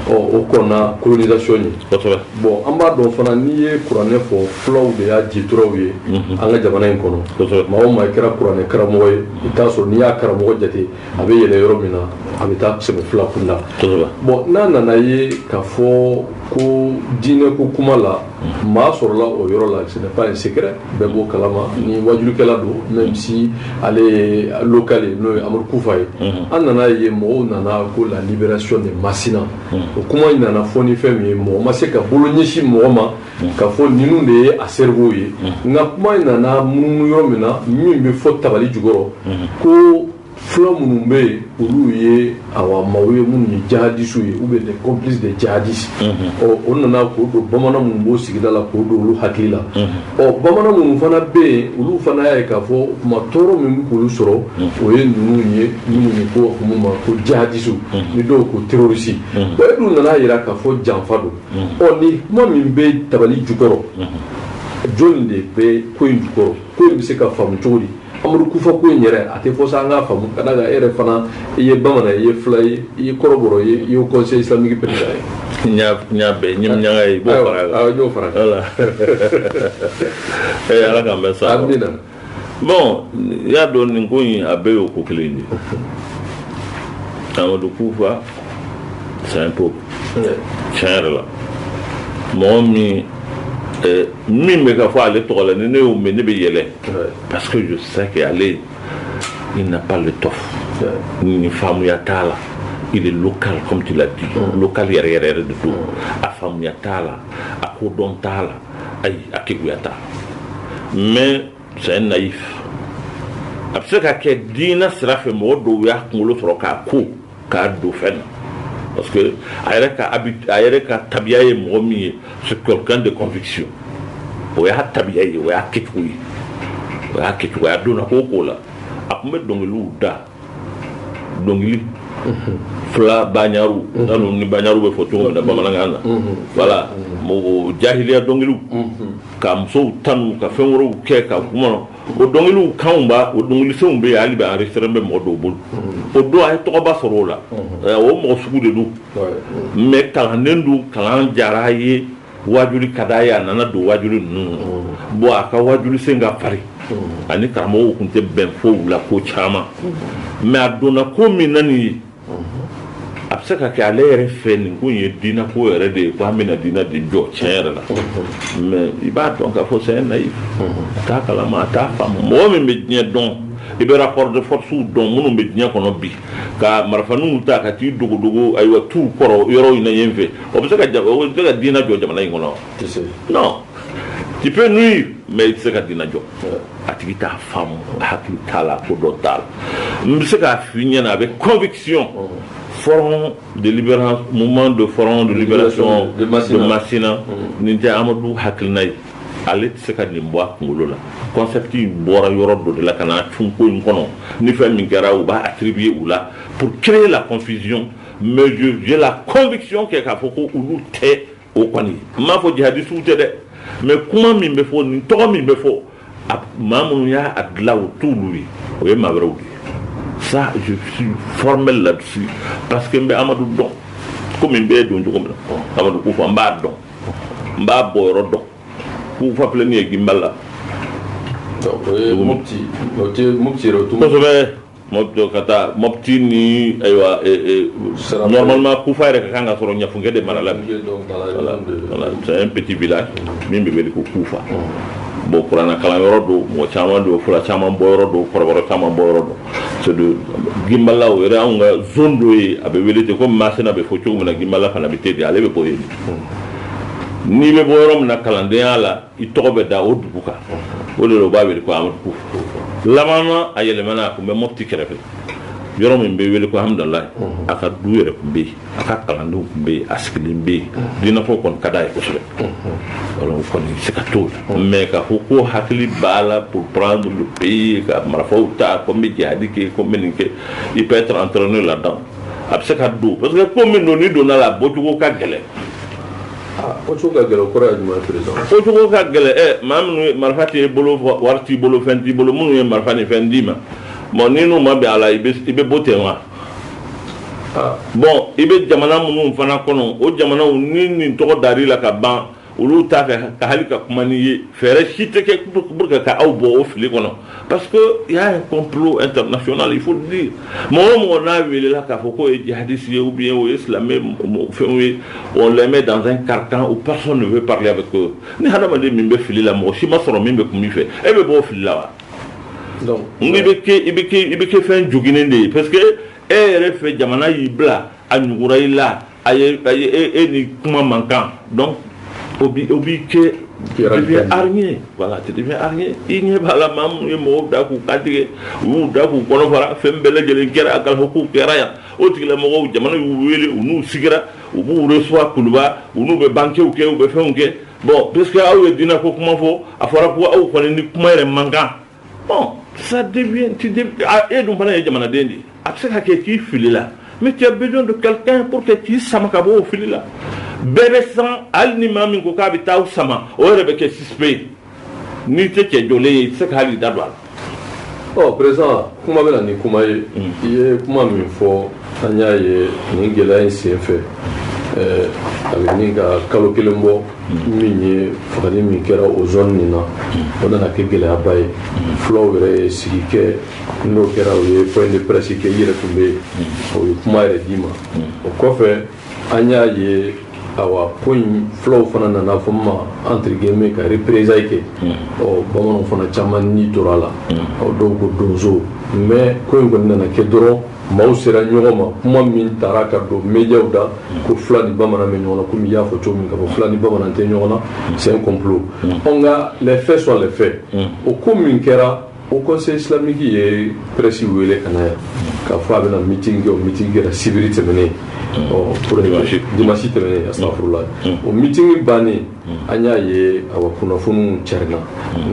ɔ o kɔnna colonisation ɲɛ kosɛbɛ bon an b'a dɔn fana n'i ye kuranɛ fɔ fulaw de y'a jituraw ye an ka jamana in kɔnɔ kosɛbɛ maa o maa i kɛra kuranɛ karamɔgɔ ye i t'a sɔrɔ n'i y'a karamɔgɔ jate a bɛ yɛlɛ yɔrɔ min na a bɛ taa sɛmɛ fula kun la kosɛbɛ bon n'a nana ye k'a fɔ ko diinɛ ko kuma la maa sɔrɔla o yɔrɔ la ce n'est pas un secret bɛɛ b'o kalama ni waajulikɛla don même si ale ye local ye n'o ye Amadu Kufa ye an nana ye mɔgɔw nana ko la libération de Masina o kuma in nana fɔ ni fɛn min ye mɔgɔ ma se ka bolo ɲɛsin mɔgɔ ma k'a fɔ ninnu de ye a cerveau ye nka kuma in nana munumunu yɔrɔ min na min bɛ fɔ tabali jukɔrɔ ko fula minnu bɛ yen olu ye awa maaw ye minnu ye jihadisiw ye ou bien des complices de jihadistes ɔ o nana k'o don bamanan minnu b'o sigida la k'o don olu hakili la ɔ bamanan minnu fana bɛ yen olu fana y'a ye k'a fɔ o tuma tɔɔrɔ min bɛ k'olu sɔrɔ o ye ninnu ye minnu ye ko hukumu ma ko jihadisiw ni dɔw ko terrorisi bon e dun nan'a jira k'a fɔ janfa don ɔ nin kuma min bɛ tabali jukɔrɔ jɔni de bɛ ko in jukɔrɔ ko in bɛ se ka faamu cogo di amadu kufa ko in yɛrɛ a tɛ fɔ sa an k'a faamu ka d'a kan e yɛrɛ fana i ye bamanan ye i ye fula ye i ye kɔrɔbɔrɔ ye i ye conseil islamique président ye n y'a bɛɛ ɲɛ ɲaga ye i b'o fara a kan n y'o fara voilà ee ala k'an bɛɛ sa amina bon i y'a dɔn nin ko in a bɛɛ y'o ko kelen de ye amadu kufa c'est un pion tiɲɛ yɛrɛ la mɔgɔ min eh, min bɛ ka fɔ ale tɔgɔ la ni ne y'o mɛn ne bɛ yɛlɛ Euh, parce que je sais que ale, il n'a pas l'étoffe. Nin faamuya t'a la, il est local, comme tu l'as dit. Mm. Local yɛrɛ yɛrɛ de don. Mm. A faamuya t'a la, a kodɔn t'a la, a keguya t'a. Mais c'est un naïf. A bɛ se ka kɛ diinɛ sira fɛ mɔgɔ dɔw y'a kunkolo sɔrɔ k'a ko k'a don fɛn na parce que a yɛrɛ ka habitude a yɛrɛ ka tabiya ye mɔgɔ min ye c'est quelqu'un de conviction o y'a tabiya ye o y'a kɛcogo ye o y'a kɛcogo ye a donna ko o ko la a tun bɛ dɔnkiliw da dɔnkili fula baɲaru n t'a dɔn ni baɲaru bɛ fɔ cogo min na bamanankan na voilà mɔgɔ jahiliya dɔnkiliw ka musow tanu ka fɛn wɛrɛw kɛ ka kuma o dɔnkiliw kanw b'a o dɔnkilisenw bɛ yen hali bi enregistrement bɛ mɔgɔ dɔw bolo o don a ye tɔgɔba sɔrɔ o la o mɔgɔ sugu de don mais kalannen don kalan diyara a ye waajuli ka d'a ye a nana don waajuli ninnu bon a ka waajuli sen ka farin a ni karamɔgɔw tun tɛ bɛn fɔlɔ ko caman mais a donna ko min na nin ye a bɛ se ka kɛ ale yɛrɛ fɛ nin ko ye diinɛ ko yɛrɛ de ye ko an bɛna diinɛ de jɔ tiɲɛ yɛrɛ la mais i b'a dɔn k'a fɔ c'est un naïf a t'a kalama a t'a faamu mɔgɔ min bɛ diɲɛ dɔn i bɛ rapports de force dɔn minnu bɛ diɲɛ kɔnɔ bi ka marifaw ta ka t'i dogodogo ayiwa tu kɔrɔ yɔrɔ in ɲɛ fɛ o bɛ se ka diinɛ jɔ jamana in kɔnɔ tu peux nuire mais i tɛ se ka dina jɔ a tigi t'a faamu a hakili t'a la kodɔn t'a la n bɛ se k'a f'i ɲɛna avec conviction front de libération mouvement de front de libération de Masina nin tɛ Amadu hakilina ye ale tɛ se ka nin bɔ a kunkolo la concept in bɔra yɔrɔ dɔ de la ka na cun ko in kɔnɔ ni fɛn min kɛra u b'a attribuer u la pour créer la confusion mais j'ai la conviction que k'a fɔ ko olu tɛ o kɔni n m'a fɔ jihadisiw tɛ dɛ mais kuma min bɛ fɔ nin tɔgɔ min bɛ fɔ a maa minnu y'a a dilan o t'olu ye o ye maa wɛrɛw de ye ça je suis formel là-dessus parce que n bɛ Amadu dɔn komi n b'e dɔn cogo min na Amadu Kufa n b'a dɔn n b'a bɔ yɔrɔ dɔn Kufa filɛ nin ye Gimbala. Donc o ye Mopti o tɛ Mopti yɛrɛ o tɛ. Kosɛbɛ. Mɔgɔ ka taa Mopti ni ayiwa normalement kufa yɛrɛ ka kan ka sɔrɔ ɲafunkɛ de mara la c'est un petit village min bɛ wele ko kufa bon kuranɛ kalan yɔrɔ don mɔgɔ caman don fula caman bɔ yɔrɔ don kɔrɔbɔrɔ caman bɔ yɔrɔ don ginbala yɛrɛ anw ka zone dɔ ye a bɛ wele de komi Masina bɛ fɔ cogo min na ginbala fana bɛ ten de ale bɛ bɔ yen n'i bɛ bɔ yɔrɔ min na kalandenya la i tɔgɔ bɛ da o dugu kan o de b'a wele ko Amadu Kufa a yɛlɛmana a tun bɛ Mopti kɛrɛfɛ yɔrɔ min bɛ wele ko Hamdallaye a ka du yɛrɛ tun bɛ yen a ka kalandenw tun bɛ yen a sigilen bɛ yen a fɔ kɔni ka d'a ye kosɛbɛ kɔni se ka to la mais k'a fɔ ko hakili b'a la pour prendre le pays ka marifaw ta ko n bɛ jihadi kɛ ko n bɛ nin kɛ il peut être entraîné là-dedans a bɛ se ka don parce que ko min don n'i donna a la a bɔ cogo ka gɛlɛn bɔ cogo ka gɛlɛn kɔrɔ ye jumɛn président bɔ cogo ka gɛlɛn ɛ maa minnu ye marifa t'i bolo wari t'i bolo fɛn t'i bolo minnu ye marifa ni fɛn d'i ma bon ni n'u ma bɛn a la i bɛ bɔ ten wa bon i bɛ jamana minnu fana kɔnɔ o jamanaw ni nin tɔgɔ dar'i la ka ban olu t'a fɛ ka hali ka kuma n'i ye fɛɛrɛ si tɛ kɛ pour que ka aw bɔ o fili kɔnɔ Parce que y a un complot international il faut le dire mɔgɔ o mɔgɔ n'a weelela k'a fɔ k'o ye jihadisi ye ou bien o ye silamɛ fɛn ye on le met dans un carcan où personne ne veut parler avec eux ni hadamaden min bɛ fili la mɔgɔ si ma sɔrɔ min bɛ kuma i fɛ e bɛ bɔ fili la wa i bɛ kɛ fɛn joginnen de ye parce que e yɛrɛ fɛ jamana y'i bila a ɲ i la a ye a ye e, e ni kuma man kan donc o bi o bi kɛ deviens hargneux voilà tu deviens hargneux i ɲɛ b'a la maa minnu ye mɔgɔw da k'u kan tigɛ u y'u da k'u kɔnɔ fara fɛn bɛɛ lajɛlen kɛra Aguelhok u kɛra yan o tigilamɔgɔw jamana y'u wele u n'u sigira u b'u recevoir kuluba u n'u bɛ bankew kɛ u bɛ fɛnw kɛ bon puisque aw ye diinako kuma fɔ a fɔra ko aw kɔni ni kuma yɛrɛ man kan ça devient e dun fana ye jamanaden de a bɛ se ka kɛ k'i filila mais tu as besoin de quelqu'un pour que k'i sama ka bɔ o fili la bɛɛ bɛ siran hali ni maa min ko k'a bɛ taa aw sama o yɛrɛ bɛ kɛ suspect ye n'i tɛ cɛ jɔlen ye i tɛ se ka hali da don a la ɔ président kuma bɛ na ni kuma ye mm. i ye kuma min fɔ an y'a ye nin gɛlɛya in sen fɛ a bɛ ɲini ka kalo kelen bɔ min ye fagali min kɛra o zone nin na o nana kɛ gɛlɛyaba ye fulaw yɛrɛ ye sigi kɛ n'o kɛra u ye point de presse kɛ i yɛrɛ tun bɛ yen u ye kuma yɛrɛ d'i ma o kɔfɛ an y'a ye awa ko in fulaw fana nana fɔ ma entre guillemets ka représailles kɛ ɔ bamananw fana caman ni tora a la ɔ dɔw ko donso mais ko in kɔni nana kɛ dɔrɔn maaw sera ɲɔgɔn ma kuma min taara ka don médiaw da ko fula ni bamanan bɛ ɲɔgɔn na komi i y'a fɔ cogo min k'a fɔ fula ni bamanan tɛ ɲɔgɔn na c'est un complot ɔ nka les faits sont les faits o ko min kɛra haut conseil islamique ye presse wele ka na yan k'a fɔ a bɛna meeting kɛ o meeting kɛra sibiri tɛmɛnen ɔ dimanche tɛmɛnen astafurulayi o meeting bannen an y'a ye awa kunnafoniw carina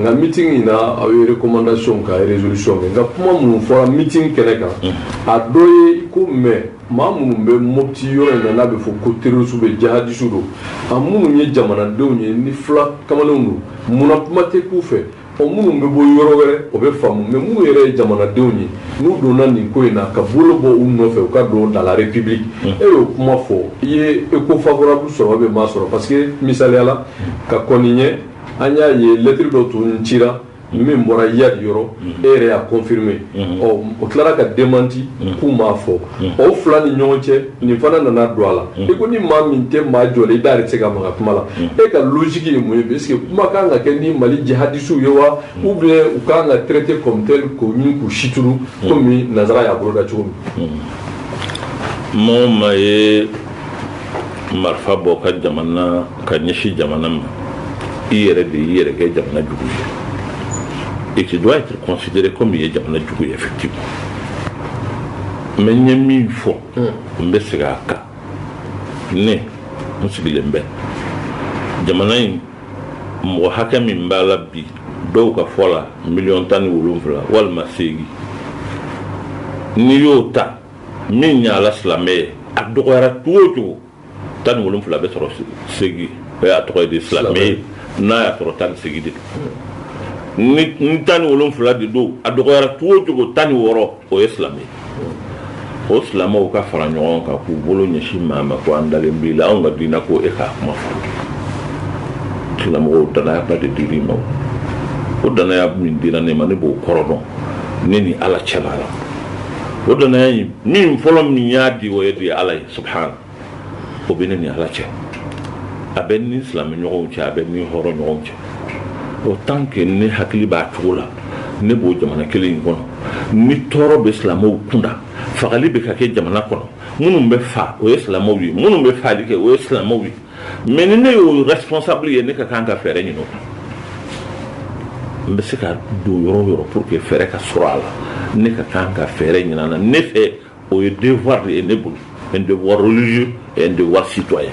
nka meeting in na aw ye recommandation ka résolution kɛ nka kuma minnu fɔra meeting kɛnɛ kan a dɔ ye ko mais maa minnu bɛ mopti yɔrɔ in na n'a bɛ fɔ ko terroriste ou bien jihadiste don a minnu ye jamanadenw ye ni fula kamalenw don munna kuma tɛ k'u fɛ Ɔ minnu bɛ bɔ yɔrɔ wɛrɛ o bɛ faamu mais minnu yɛrɛ ye jamanadenw ye n'u donna nin ko in na ka bolo bɔ u nɔfɛ u ka don dans la République e y'o kuma fɔ i ye echo favorable sɔrɔ ou bien i m'a sɔrɔ parce que misaliya la ka kɔn nin ɲɛ an y'a ye lettre dɔ tun cira min bɔra Iyad yɔrɔ e yɛrɛ y'a confirmer ɔ o tilara ka démenti k'u m'a fɔ. Mm. o fila ni ɲɔgɔn cɛ nin fana nana don a la mm. i ko ni maa min tɛ maa jɔlen i da yɛrɛ tɛ se ka maga kuma la mm. e ka logique ye mun ye est ce que kuma ka kan ka kɛ ni mali jihadisiw ye wa ou bien u ka kan ka traité comme tel k'u ɲini k'u situnu komi nazara y'a bolo da cogo min mɔgɔ min ye marifa bɔ ka jamana ka ɲɛsin jamana ma i yɛrɛ de y'i yɛrɛ kɛ jamana jugu ye et tu dois être considéré comme i ye jamana jugu ye effectivement mais n ye min fɔ n bɛ segin a kan ne n sigilen bɛ jamana in mɔgɔ hakɛ min b'a la bi dɔw ka fɔ la miliyɔn tan ni wolonfila walima seegin n'i y'o ta min y'a la silamɛ ye a dɔgɔyara cogo o cogo tan wolon wolonwula bɛ sɔrɔ seegin o y'a tɔgɔ ye de silamɛ ye n'a y'a sɔrɔ tan ni seegin de n tan ni wolon wolonwula de don a dɔgɔyara cogo o cogo tan ni wɔɔrɔ o ye silamɛ o silamɛw ka fara ɲɔgɔn kan k'u bolo ɲɛsin maa ma ko an dalen b'i la anw ka dina ko e k'a kuma fɔ silamɔgɔ dannayaba de d'i ma o dannaya min dira ne ma ne b'o kɔrɔ dɔn ne ni ala cɛla la o dannaya min fɔlɔ min y'a di o ye de ye ala ye subahana o bɛ ne ni ala cɛ a bɛ n ni silamɛ ɲɔgɔnw cɛ a bɛ n ni hɔrɔn ɲɔgɔnw cɛ autant que ne hakili b'a cogo la ne b'o jamana kelen in kɔnɔ ni tɔɔrɔ bɛ silamɛw kunda fagali bɛ ka kɛ jamana kɔnɔ minnu bɛ fa o ye silamɛw ye minnu bɛ faali kɛ o ye silamɛw ye mais ni ne y'o responsable ye ne ka kan ka fɛɛrɛ ɲini o kan n bɛ se ka don yɔrɔ yɔrɔ pour que fɛɛrɛ ka sɔrɔ a la ne ka kan ka fɛɛrɛ ɲini a la ne fɛ o ye devoir de ye ne bolo un devoir religieux un devoir citoyen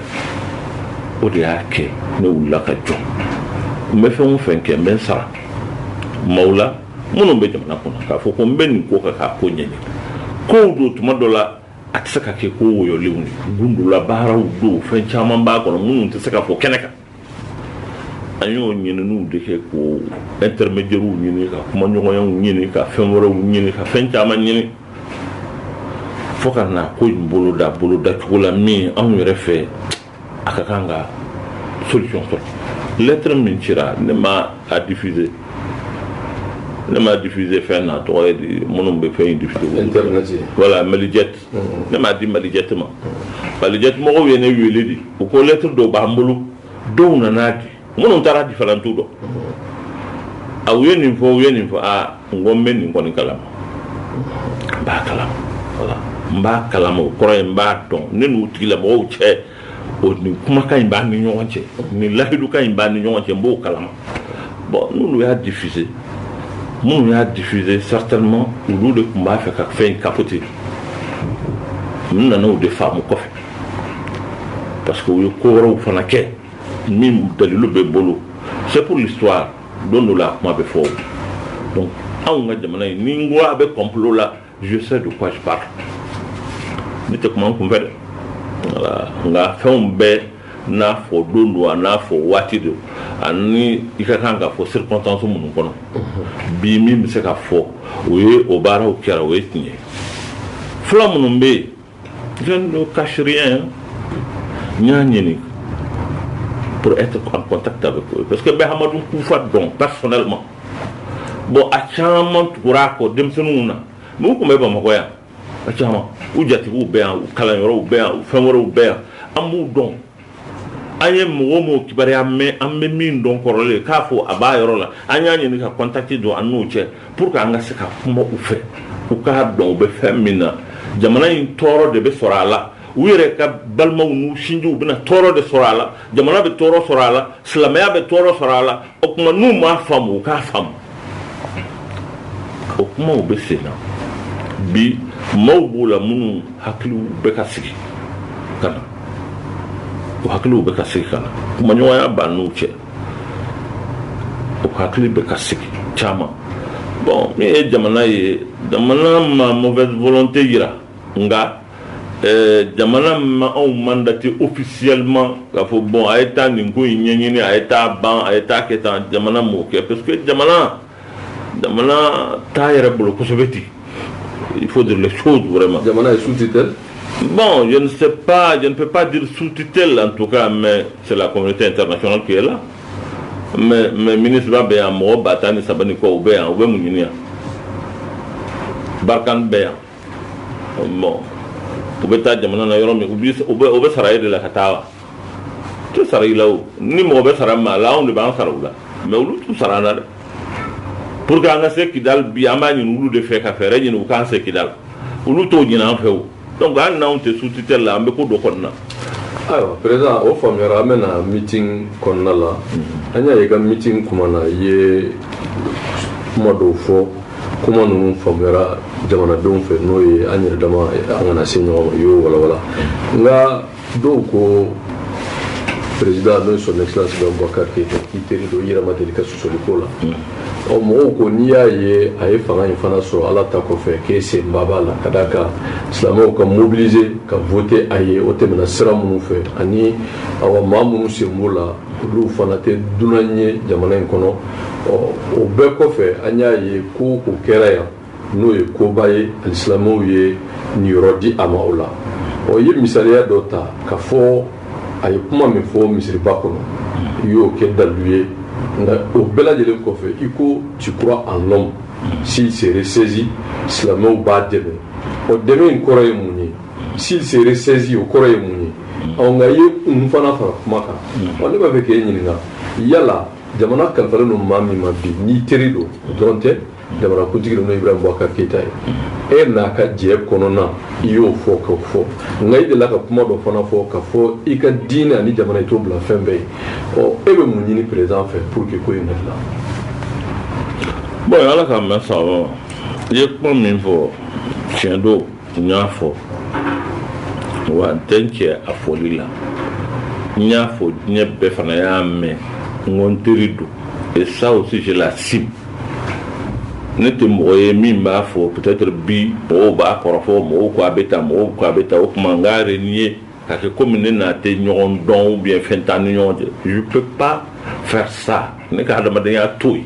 o de y'a kɛ ne wulila ka jɔ n bɛ fɛn o fɛn kɛ n bɛ n sara maaw la minnu bɛ jamana kɔnɔ k'a fɔ ko n bɛ nin ko kan k'a ko ɲɛɲini kow don tuma dɔ la a tɛ se ka kɛ ko wɔyɔlenw ye gundolabaaraw don fɛn caman b'a kɔnɔ minnu tɛ se ka fɔ kɛnɛ kan an y'o ɲininiw de kɛ k'o intermédiaires ɲini ka kumaɲɔgɔnyaw ɲini ka fɛn wɛrɛw ɲini ka fɛn caman ɲini fo ka na ko in boloda boloda cogo la min anw yɛrɛ fɛ a ka kan ka solution sɔrɔ lettre min cira ne m'a diffuser n m'a diffuser fɛn a tɔgɔ ye di minnu bɛ fɛn in diffuser internet voilà malijɛti ne m'a di malijɛti ma malijɛti mɔgɔw ye ne wele de u ko lɛtiri dɔw b'an bolo dɔw nana a di minnu taara a di falan t'u dɔn a u ye nin fɔ u ye nin fɔ aa n ko n bɛ nin kɔni kalama n b'a kalama oui n b'a kalama o kɔrɔ ye n b'a dɔn ne n'u tigilamɔgɔw cɛ o ni kumakan in b'an ni ɲɔgɔn cɛ ni layidukan in b'an ni ɲɔgɔn cɛ n b'o kalama bon n'olu y'a difise minnu y'a difise certainement olu de tun b'a fɛ ka fɛn in kapote n nana o de faamu kɔfɛ parce que u ye ko wɛrɛw fana kɛ min dalilu bɛ n bolo c'est pour l'histoire don dɔ la a kuma bɛ fɔ donc anw ka jamana in ni n ko a bɛ complot la je sais de quoi je parle ne tɛ kuma n kun fɛ dɛ voilà nka fɛnw bɛɛ n'a fɔ don don a n'a fɔ waati don ani i ka kan k'a fɔ circonstance minnu kɔnɔ bi min bɛ se ka fɔ o ye o baaraw kɛra o ye tiɲɛ ye fula minnu bɛ yen je ne cache rien n y'a ɲini pour être en contact avec eux parce que n bɛ hamadun kufa dɔn personnellement bon a caman tugura a kɔ denmisɛnninw na minnu tun bɛ bamakɔ yan a caman u jatigiw bɛ yan u kalanyɔrɔw bɛ yan u fɛn wɛrɛw bɛ yan an b'u dɔn an ye mɔgɔ o mɔgɔ kibaruya mɛn an bɛ min dɔn kɔrɔlen k'a fɔ a b'a yɔrɔ la an y'a ɲini ka contact don an n'o cɛ pour que an ka se ka kuma u fɛ u k'a dɔn u bɛ fɛn min na jamana in tɔɔrɔ de bɛ sɔrɔ a la u yɛrɛ ka balimaw n'u sinjiw bɛna tɔɔrɔ de sɔrɔ a la jamana bɛ tɔɔrɔ sɔrɔ a la silamɛya bɛ tɔɔrɔ sɔrɔ a la o tuma n'u m'a faamu u k'a faamu o kumaw bɛ sen na bi maaw b'o la minnu hakiliw bɛ ka sigi ka na o hakiliw bɛ ka sigi ka na kumaɲɔgɔnya b'an n'u cɛ o hakili bɛ ka sigi caman bon min ye jamana ye jamana ma mauvaise volonté jira nka Ɛɛ jamana ma anw mandaté officiellement ka fɔ bon a ye taa nin ko in ɲɛɲini a ye taa ban a ye taa kɛ taa jamana mɔgɔ kɛ parce que jamana jamana t'a yɛrɛ bolo kosɛbɛ ten il faut dire so jumɛn ma jamana ye sous tutelle bon je ne peux pas dire sous tutelle en tout cas mais c'est la communauté internationale qui est là mais mais minusma bɛ yan mɔgɔ ba tan ni saba kɔ u bɛ yan u bɛ mun ɲini yan barkhane bɛ yan bon u bɛ taa jamana na yɔrɔ min u bɛ sara e de la ka taa wa u tɛ sara i la o ni mɔgɔ bɛ sara maa la anw de b'an sara u la mais olu t'u sara an na dɛ pour que an ka se kidal bi an b'a ɲini olu de fɛ ka fɛɛrɛ ɲini u k'an se kidal olu t'o ɲini an fɛ o donc an n'anw tɛ sous tutelle la an bɛ ko dɔ kɔnɔna na ayiwa perezidan o faamuyara an bɛ na meeting kɔnɔna la mhm. an y'a ye i ka meeting kuma na i ye kuma dɔw fɔ kuma ninnu faamuyara jamanadenw fɛ n'o ye an yɛrɛ dama an kana se ɲɔgɔn ma i y'o walawala mhm. nka dɔw ko perezidan n'o ye son excellence ibrahim boubacar k'i teri don i yɛrɛ ma deli ka sɔli k'o la ɔ mɔgɔw ko n'i y'a ye a ye fanga in fana sɔrɔ ala ta kɔfɛ k'e senba b'a la ka d'a kan silamɛw ka mobilisé ka vote a ye o tɛmɛna sira minnu fɛ ani awa maa minnu sen b'o la olu fana tɛ dunan ye jamana in kɔnɔ ɔ o bɛɛ kɔfɛ an y'a ye ko ko kɛra yan n'o ye koba ye alisilamɛw ye niyɔrɔ di a ma o la i ye misaliya dɔ ta ka fɔ a ye kuma min fɔ misiriba kɔnɔ i y'o kɛ dalilu ye nka o bɛɛ lajɛlen kɔfɛ i ko tu crois en l'homme s'il se ressaisit silamɛw b'a dɛmɛ ɔ dɛmɛ in kɔrɔ ye mun ye s'il se ressaisit o kɔrɔ ye mun ye ɔ nka i ye kun fana fara kuma kan ɔ ne b'a fɛ k'e ɲininka yala jamana kalifalen don maa min ma bi n'i teri don o dɔrɔn tɛ jamanakuntigi don n'o ye ibrahim boubacar keyita ye e n'a ka jɛ kɔnɔna i y'o fɔ ka fɔ nka i delila ka kuma dɔ fana fɔ ka fɔ i ka diinɛ ani jamana i t'o bila fɛn bɛɛ ye ɔ e bɛ mun ɲini perezidan fɛ pour que ko in ka dilan bon ala k'a mɛn sababa i ye kuma min fɔ tiɲɛ don n y'a fɔ wa n tɛ n cɛ a fɔli la n y'a fɔ diɲɛ bɛɛ fana y'a mɛn n ko n teri don et ça aussi je l'assume ne tɛ mɔgɔ ye min b'a fɔ peut-être bi mɔgɔw b'a kɔrɔfɔ mɔgɔw ko a bɛ tan mɔgɔw ko a bɛ tan o tuma n k'a renier k'a kɛ komi ne n'a tɛ ɲɔgɔn dɔn ou bien fɛn t'an ni ɲɔgɔn cɛ je peux pas faire ça ne ka hadamadenya t'o ye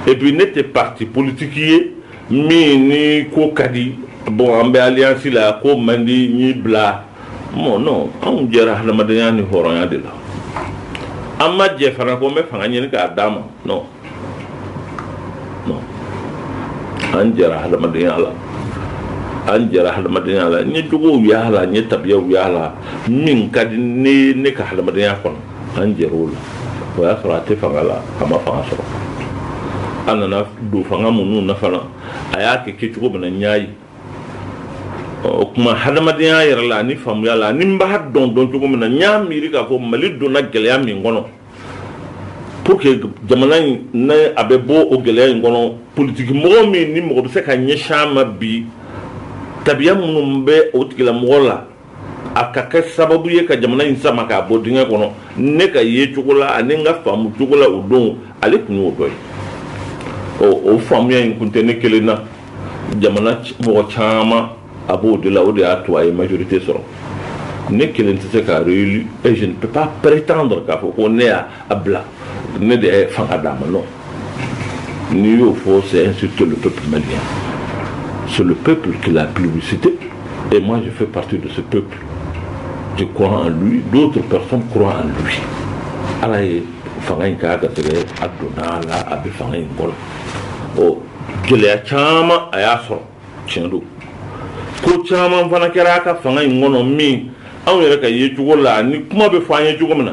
et puis ne tɛ parti politique ye min ni ko ka di bon an bɛ alliance la ko man di n y'i bila bon non anw jɛra hadamadenya ni hɔrɔnya de la an ma jɛ fana ko n bɛ fanga ɲini k'a d'a ma non non an jɛra hadamadenya la an jɛra hadamadenya la n ye jogow y'a la n ye tabiyaw y'a la min ka di ne ye ne ka hadamadenya kɔnɔ an jɛra o la o y'a sɔrɔ a tɛ fanga la a ma fanga sɔrɔ a nana don fanga min na fana a y'a kɛ kɛ cogo min na n y'a ye o tuma hadamadenya yɛrɛ la ani faamuya la ani n b'a dɔn dɔn cogo min na n y'a miiri k'a fɔ mali donna gɛlɛya min kɔnɔ pour que jamana in ne a bɛ bɔ o gɛlɛya in kɔnɔ politiki mɔgɔ min ni mɔgɔ bɛ se ka ɲɛsin a ma bi tabiya minnu bɛ o tigilamɔgɔ la a ka kɛ sababu ye ka jamana in sama k'a bɔ dingɛ kɔnɔ ne ka ye cogo la ani n ka faamu cogo la o don ale tun y'o dɔ ye o faamuya in tun tɛ ne kelen na jamana mɔgɔ caman a b'o de la o de y'a to a ye majorité sɔrɔ ne kelen tɛ se k'a élu je ne peux pas prétendre k'a fɔ ko ne a bila ne de ye fanga d'a ma non n'i y'o fɔ c'est insulter le peuple malien c'est le peuple qui l'a plébiscité et moi je fais partie de ce peuple je crois en lui d'autres personnes croient en lui ala ye fanga in k'a garisigɛ a donna a la a bɛ fanga in kɔnɔ ɔ gɛlɛya caman a y'a sɔrɔ tiɲɛ don ko caman fana kɛra a ka fanga in kɔnɔ min anw yɛrɛ ka ye cogo la ni kuma bɛ fɔ an ye cogo min na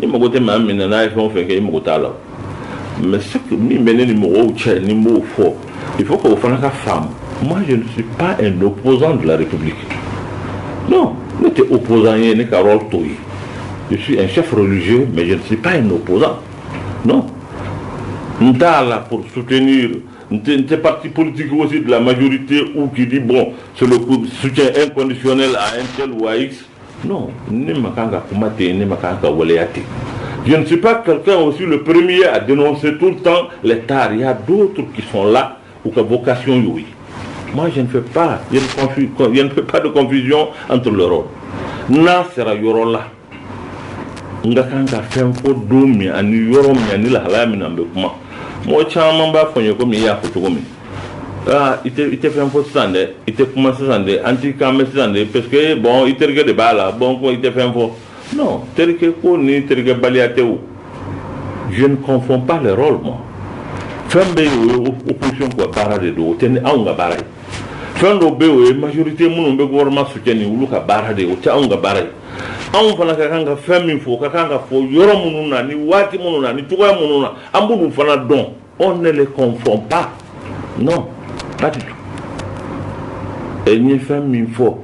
n'i mago tɛ maa min na n'a ye fɛn o fɛn kɛ i mago t'a la mais ce que min bɛ ne ni mɔgɔw cɛ ni n b'o fɔ il faut k'o fana ka faamu moi je ne suis pas un opposant de la république non ne tɛ opposant ye ne ka rôle t'o ye je suis un chef religieux mais je ne suis pas un opposant non n t'a la pour soutenir n tɛ parti politique aussi de la majorité ou qui dit bon c'est le soutien inconditionnel à un tel ou à x Non, ne ma kan ka kuma ten, ne ma kan ka waleya ten. Je ne suis pas quelqu'un aussi le premier à dénoncer tout le temps les tares. Il y a d'autres qui sont là u ka vocation y'o ye. Moi, je ne fais pas, je ne, confu, je ne fais pas de confusion entre les rôles. N'a sera yɔrɔ la, n ka kan ka fɛn fɔ don min ani yɔrɔ min ani lahalaya min na n bɛ kuma. Mɔgɔ caman b'a fɔ n ye komi i y'a fɔ cogo min. i tɛ fɛn fɔ sisan dɛ i tɛ kuma sisan dɛ an t'i kan mɛn sisan dɛ parce que bon i terikɛ de b'a la bon ko i tɛ fɛn fɔ non terikɛ ko ni terikɛbaliya tɛ o je ne confonds pas les rôles moi fɛn bɛ yen o ye opposition ka baara de don o tɛ ni anw ka baara ye fɛn dɔw bɛ yen o ye majorité minnu bɛ gouvernement soutenir olu ka baara de ye o tɛ anw ka baara ye anw fana ka kan ka fɛn min fɔ o ka kan ka fɔ yɔrɔ minnu na ni waati minnu na ni cogoya minnu na an b'olu fana dɔn on ne les confond pas non pas du tout et n ye fɛn min fɔ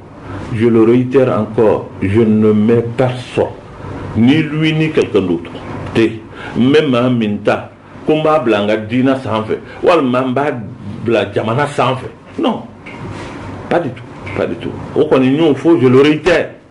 je le réitère encore je ne mets personne ni lui ni quelqu'un d'autre tɛ n bɛ maa min ta ko n b'a bila n ka diinɛ sanfɛ walima n b'a bila jamana sanfɛ non pas du tout pas du tout o kɔni n y'o fɔ je le réitère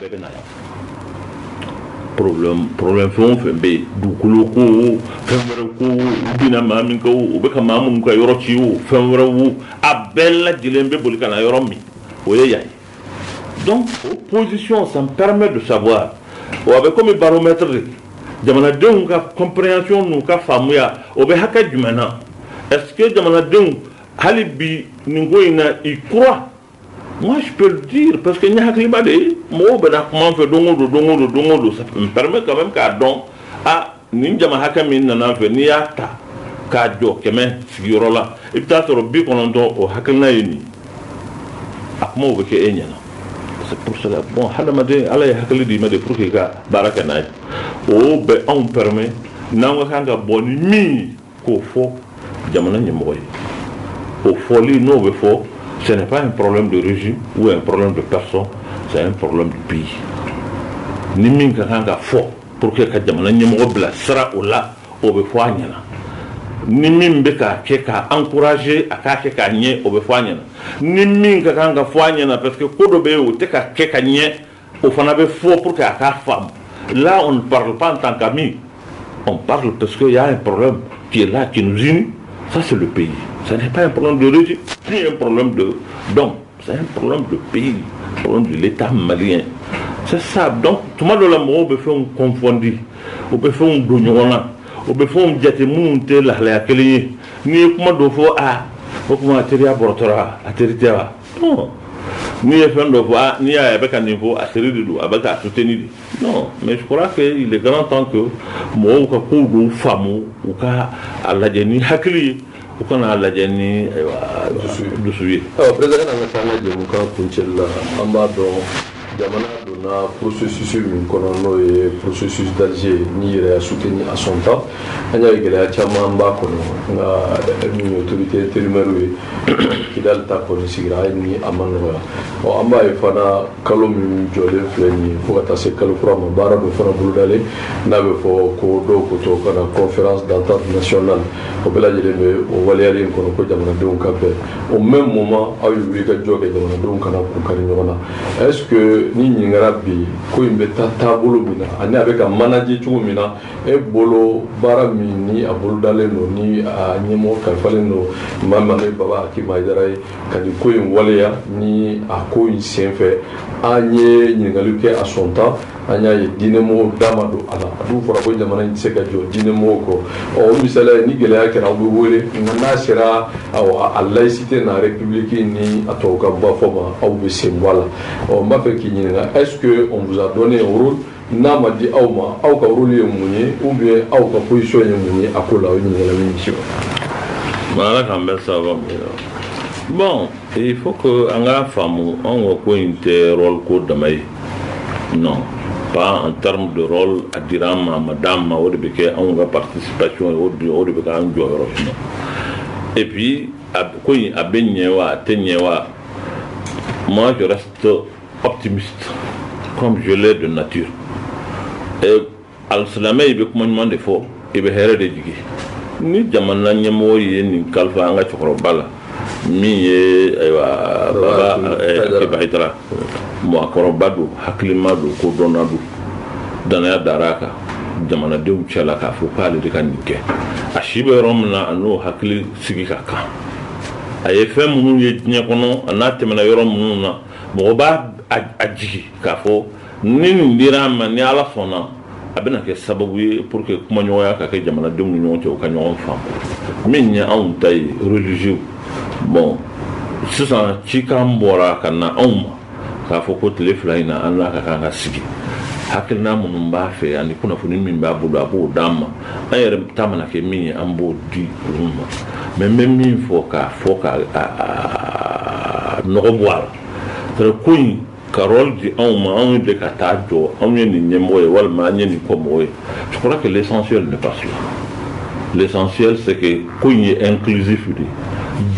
bɛɛ bɛ na yan problème problème fɛn o fɛn bɛ yen dugukolo ko o fɛn wɛrɛ ko o u binna maa min kan o u bɛ ka maa minnu ka yɔrɔ ci o fɛn wɛrɛ o a bɛɛ lajɛlen bɛ boli ka na yɔrɔ min o ye yan ye donc o position ça me permet de savoir o a bɛ komi baromètre de jamanadenw ka compréhension n'u ka faamuya o bɛ hakɛ jumɛn na est ce que jamanadenw hali bi nin ko in na ils croient Moi, je peux le dire, parce que n'i ye hakilima de, mɔgɔw bɛ na kuma n fɛ don go don don go don don go don, ça me permet quand même k'a dɔn, ah, nin jama hakɛ min nana n fɛ, n'i y'a ta, k'a jɔ kɛmɛ sigiyɔrɔ la i bɛ t'a sɔrɔ bi kɔnɔntɔn o hakilina ye nin a kumaw bɛ kɛ e ɲɛna c'est pour cela bon hadamaden ala ye hakili d'i ma de pour que i ka baara kɛ n'a ye o bɛ anw permet n'an ka kan ka bɔ ni min k'o fɔ jamana ɲɛmɔgɔ ye o fɔli n'o bɛ fɔ ce n'est pas un problème de régime ou un problème de personne c'est un problème du pays ni min ka kan ka fɔ pour que ka jamana ɲɛmɔgɔ bila sira o la o bɛ fɔ a ɲɛna ni min bɛ ka kɛ k'a encourager a k'a kɛ ka ɲɛ o bɛ fɔ a ɲɛna ni min ka kan ka fɔ a ɲɛna parce que ko dɔ bɛ yen o tɛ ka kɛ ka ɲɛ o fana bɛ fɔ pour que a k'a faamu là on ne parle pas en tant qu'ami on parle parce qu'il y a un problème qui est là qui nous unit ça c'est le pays ça n'est pas un problème de régime ni un problème d'homme c'est un problème de pays un problème de l'état malien c'est ça donc tuma dɔ la mɔgɔw bɛ fɛnw confondu u bɛ fɛnw don ɲɔgɔn na u bɛ fɛnw jate minnu tɛ lahalaya kelen ye n'i ye kuma dɔ fɔ a o tuma teriya bɔrɔtɔra a teri tɛ wa n'i ye fɛn dɔ fɔ ah, n'i y'a ye a bɛ ka nin fɔ a teri de don a bɛ k'a soutenir de non mais je crois que il est grand temps que mɔgɔw ka kow dɔw faamu u ka a lajɛ ni hakili ye u kana a lajɛ ni dusu ye. président an ka taa an ka jɛmukan kuncɛli la an b'a dɔn jamana donna processus min kɔnɔ n'o ye processus d'Alger n'i yɛrɛ y'a soutenu à son temps an y'a ye gɛlɛya caman b'a kɔnɔ nka min ye autorité intérimaire ye kidali ta kɔni sigira hali ni a ma nɔgɔya ɔ an b'a ye fana kalo min jɔlen filɛ nin ye fo ka taa se kalo kura ma baara dɔ fana bolodalen n'a bɛ fɔ ko dɔw ko to ka na conférence d'entente nationale o bɛɛ lajɛlen bɛ o waleyalen kɔnɔ ko jamanadenw ka bɛn au même moment aw ye wuli ka jɔ kɛ jamanadenw kana k'u kari ɲɔgɔn na est ce que n'i ɲininkara bi ko in bɛ taa taabolo min na ani a bɛ ka manaje cogo min na e bolo baara min ni a bolodalen don ni a ɲɛmɔgɔ kalifalen don maa min ale baba akib ayidara ye ka nin ko in waleya ni a ko in senfɛ an ye ɲininkali kɛ à son temps an y'a ye diinɛmɔgɔw da ma don a la a dun fɔra ko jamana in tɛ se ka jɔ diinɛmɔgɔw kɔ ɔ o misaliya ye ni gɛlɛya kɛra aw bɛ wele nka n'a sera awɔ a laïcité n'a république ni a tɔw ka ba fɔ ma aw bɛ sen bɔ a la ɔ n b'a fɛ k'i ɲininka est ce que on vous a donné un rôle n'a ma di aw ma aw ka rôle ye mun ye ou bien aw ka position ye mun ye a ko la o ɲininkali bɛ misi ma. ala k'an bɛɛ sababa min na bon il faut que an k'a faamu anw ka ko in tɛ rôle ko dama ye. non pas en terme de rôle a dir'an ma a ma d'an ma o de bɛ kɛ anw ka participation ye o de o de bɛ k'an jɔyɔrɔ minɛ et puis a ko in a bɛ ɲɛ wa a tɛ ɲɛ wa moi je reste optimiste comme je le suis de nature et Alsilamɛ i bɛ kuma ɲuman de fɔ i bɛ hɛrɛ de jigi ni jamana ɲɛmɔgɔ ye nin kalifa an ka cɛkɔrɔba la min ye baba ayidara mɔgɔkɔrɔba don hakilima don ko dɔnna don dannaya dara a kan jamanadenw cɛ la k'a fɔ k'ale de ka nin kɛ a si bɛ yɔrɔ min na a n'o hakili sigi ka kan a ye fɛn minnu ye diɲɛ kɔnɔ a n'a tɛmɛna yɔrɔ minnu na mɔgɔ b'a jigi k'a fɔ Ni nin dira a ma ni Ala sɔnna a bɛna kɛ sababu ye pour que kumaɲɔgɔnya ka kɛ jamanadenw ni ɲɔgɔn cɛ u ka ɲɔgɔn faamu min ye anw ta ye religieux bon sisan cikan bɔra ka na anw ma k'a fɔ ko tile fila in na an n'a ka kan ka sigi hakilina minnu b'a fɛ ani kunnafoni min b'a bolo a b'o d'an ma an yɛrɛ ta mana kɛ min ye an b'o di olu ma mais n bɛ min fɔ k'a fɔ ka nɔgɔ bɔ a la ko in ka rôle di anw ma anw de ka taa jɔ anw ye nin ɲɛmɔgɔ ye walima an ye nin kɔ mɔgɔ ye je crois que l'essentiel n'est pas cela l'essentiel c'est que ko in ye inclusif de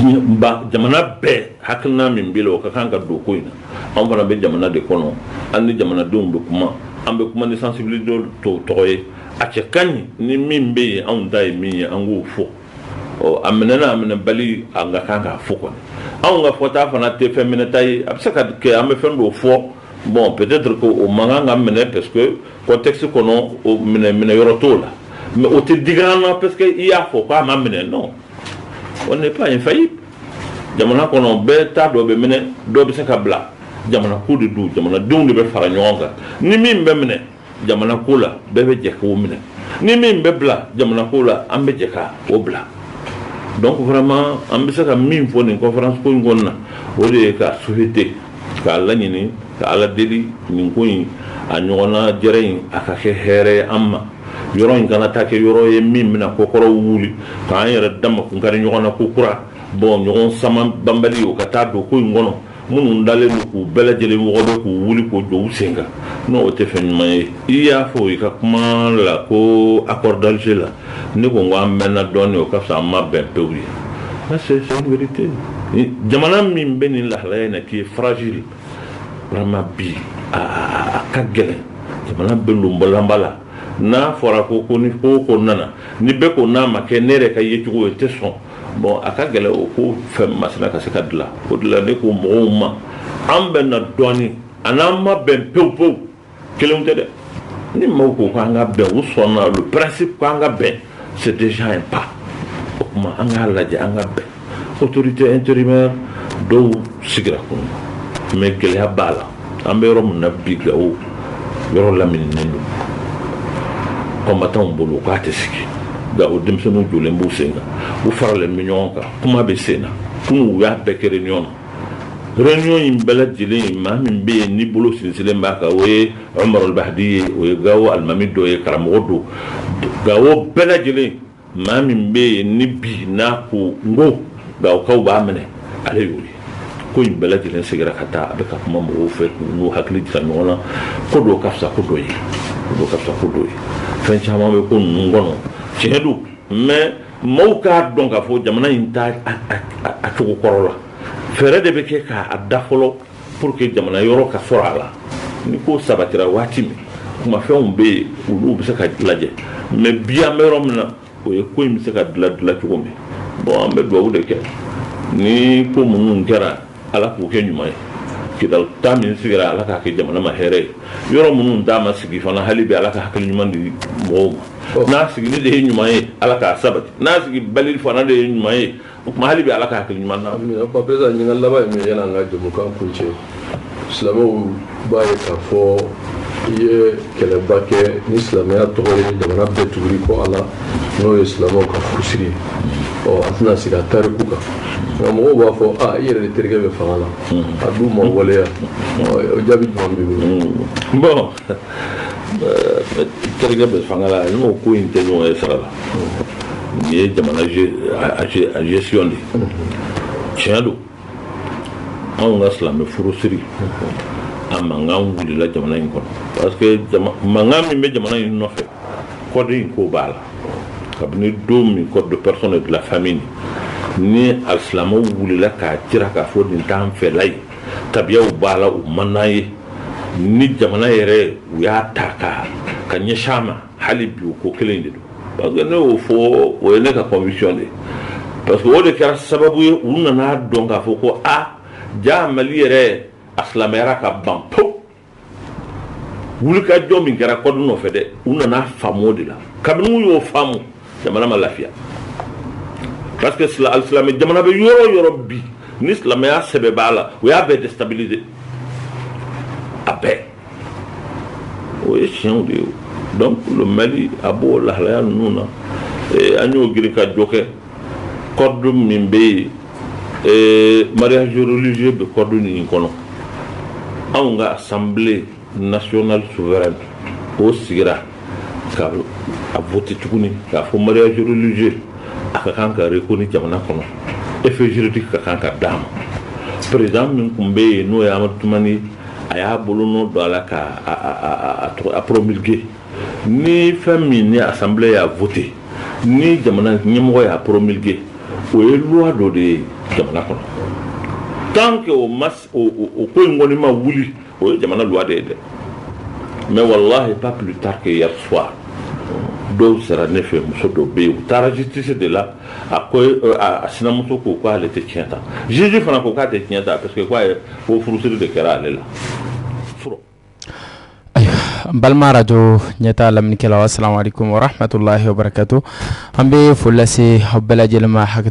ye ba jamana bɛɛ hakilina min b'i la o ka kan ka don ko in na anw fana bɛ jamana de kɔnɔ an ni jamanadenw bɛ kuma an bɛ kuma ni sensibilité dɔw tɔgɔ ye a cɛ ka ɲi ni min bɛ yen anw ta ye min ye an k'o fɔ a minɛ n'a minɛ bali an ka kan k'a fɔ ko anw ka fɔta fana tɛ fɛn minɛta ye a bɛ se ka kɛ an bɛ fɛn dɔ fɔ bon peut-être ko o man kan ka minɛ parce que contexte kɔnɔ minɛ yɔrɔ t'o la mais o tɛ digi an na parce que i y'a fɔ k'a ma minɛ non on n'est pas infaillible jamana kɔnɔ bɛɛ ta dɔ bɛ minɛ dɔ bɛ se ka bila jamana ko de don jamanadenw de bɛ fara ɲɔgɔn kan ni min bɛ minɛ jamana ko la bɛɛ bɛ jɛ k'o minɛ ni min bɛ bila jamana ko la an bɛ jɛ k'o bila donc vraiment an bɛ se ka min fɔ nin conférence ko in kɔnɔna o de ye k'a souhaiter k'a laɲini ka ala deli nin ko in a ɲɔgɔnnajɛrɛ in a ka kɛ hɛrɛ ye an ma yɔrɔ in kana taa kɛ yɔrɔ ye min bɛna ko kɔrɔ wuli k'an yɛrɛ dama kun kari ɲɔgɔn na kokura bon ɲɔgɔn sama banbali o ka taa don ko in kɔnɔ minnu dalen don k'u bɛɛ lajɛlen mɔgɔ bɛ k'u wuli k'u jɔ u sen kan non o tɛ fɛn ɲuman ye i y'a fɔ i ka kuma la ko accord d'Alger la ne ko n ko an bɛnna dɔɔnin o ka fisa an ma bɛn pewu ye ça c'est une vérité jamana min bɛ nin lahalaya in na qui est fragile vraiment bi a ka gɛlɛn jamana bɛ lonbalanba la n'a fɔra ko ko ni ko ko nana ni bɛɛ ko n'a ma kɛ ne yɛrɛ ka yecogo ye tɛ sɔn Bon a ka gɛlɛn o ko fɛn masina ka se ka dilan o dilan ne ko mɔgɔw ma an bɛnna dɔɔnin a n'an ma bɛn pewu pewu kelen tɛ dɛ ni mɔgɔw ko ko an ka bɛn u sɔnna le principe ko an ka bɛn c'est déjà un pas o tuma an k'a lajɛ an ka bɛn autorité intérimaire dɔw sigira kunun mais gɛlɛya b'a la an bɛ yɔrɔ min na bi gawo yɔrɔ lamininen don combattantw bolo k'a tɛ sigi Gawo denmisɛnninw jɔlen b'u sen kan u faralen bɛ ɲɔgɔn kan kuma bɛ sen na kunun u y'a bɛɛ kɛ réunion na réunion in bɛɛ lajɛlen maa min bɛ yen ni bolo sinsinlen b'a kan o ye Umaru Almahadi ye o ye Gawo alimami dɔ ye karamɔgɔ don Gawo bɛɛ lajɛlen Maa min bɛ yen ni bi n'a ko n ko Gawokaw b'a minɛ ale y'o ye ko in bɛɛ lajɛlen sigira ka taa a bɛ ka kuma mɔgɔw fɛ k'u hakili jira ɲɔgɔn na ko dɔ ka fisa ko dɔ ye ka fisa ko dɔ ye fɛn caman bɛ ko ninnu kɔnɔ tiɲɛ don mais mɔgɔw k'a dɔn k'a fɔ jamana in t'a cogo kɔrɔ la fɛɛrɛ de bɛ kɛ k'a da fɔlɔ pour que jamana yɔrɔ ka sɔrɔ a la ni ko sabatira waati min kumafɛnw bɛ yen olu bɛ se ka lajɛ mais bi an bɛ yɔrɔ min na o ye ko in bɛ se ka dilan dilan cogo min bon an bɛ dugawu de kɛ ni ko minnu kɛra ala k'u kɛ ɲuman ye kidal ta min sigira ala k'a kɛ jamana ma hɛrɛ ye yɔrɔ minnu ta ma sigi fana hali bi ala ka hakili ɲuman di mɔgɔw ma n'a sigili de ye ɲuman ye ala k'a sabati n'a sigi bali fana de ye ɲuman ye o tuma hali bi ala ka hakili ɲuman na ba peresa ɲininka laban ye min ye an ka jɛmukan kuncɛ silamɛw b'a ye k'a fɔ i ye kɛlɛba kɛ ni silamɛya tɔgɔ ye jamana bɛɛ tugur'i kɔ a la n'o ye silamɛw ka furusiri ye ɔ an tɛna sigi a tariku kan nka mɔgɔw b'a fɔ a i yɛrɛ de terikɛ bɛ fanga la a dun ma waleya o jaabi jumɛn b'i bolo bɔn terikɛ bɛ fanga la n ko ko in tɛ ɲɔgɔn ye sara la nin ye jamana gestion de ye tiɲɛ don anw ka silamɛ furusiri a mankan wulila jamana in kɔnɔ parce que mankan min bɛ jamana in nɔfɛ code in ko b'a la kabini don min code des personnes et de la famille ni a silamɛw wulila k'a jira k'a fɔ nin t'an fɛla ye tabiyaw b'a la u man ye ni jamana yɛrɛ u y'a ta ka ka ɲɛsin a ma hali bi ko kelen de don parce que ne y'o fɔ o ye ne ka conviction de parce que o de kɛra sababu ye u nana a dɔn k'a fɔ ko a jaa mali yɛrɛ a silamɛyara ka ban po wulikajɔ min kɛra code nɔfɛ dɛ u nana a faamu o de la kabini u y'o faamu jamana ma lafiya parce que silamɛ jamana bɛ yɔrɔ o yɔrɔ bi ni silamɛya sɛbɛ b'a la u y'a bɛɛ déstabiliser a bɛɛ o ye tiɲɛ de ye donc le Mali a b'o lahalaya ninnu na eh, an y'o girinkajɔ kɛ code min bɛ yen eh, mariage religieux bɛ code nin kɔnɔ anw ka assemblée nationale souveraine o sigira ka a voter tuguni k'a fɔ mariage religieux a ka kan ka reconnu jamana kɔnɔ effet juridique ka kan ka d'a ma président min tun bɛ yen n'o ye Amadu Tumani a y'a bolonɔ don a la ka a promulguer ni fɛn min ni assemblée y'a voter ni jamana ɲɛmɔgɔ y'a promulguer o ye loi dɔ de ye jamana kɔnɔ tant que o ma o ko in kɔni ma wuli o ye jamana loi de ye dɛ mais wallahi pas plus tard que hier soir dɔw sera ne fɛ muso dɔ bɛ yen u taara justice de la a ko euh, a sinamuso ko k'ale tɛ tiɲɛ ta juge fana ko k'a tɛ tiɲɛ ta parce que k'a ye ko furusiri de kɛra ale la fɔlɔ. n balima arajo ɲɛtaa lamɛnnikɛlaw asalaamualeykum warahmatulahi wabarakatu an bɛ foli lase aw bɛɛ lajɛlen ma hakɛ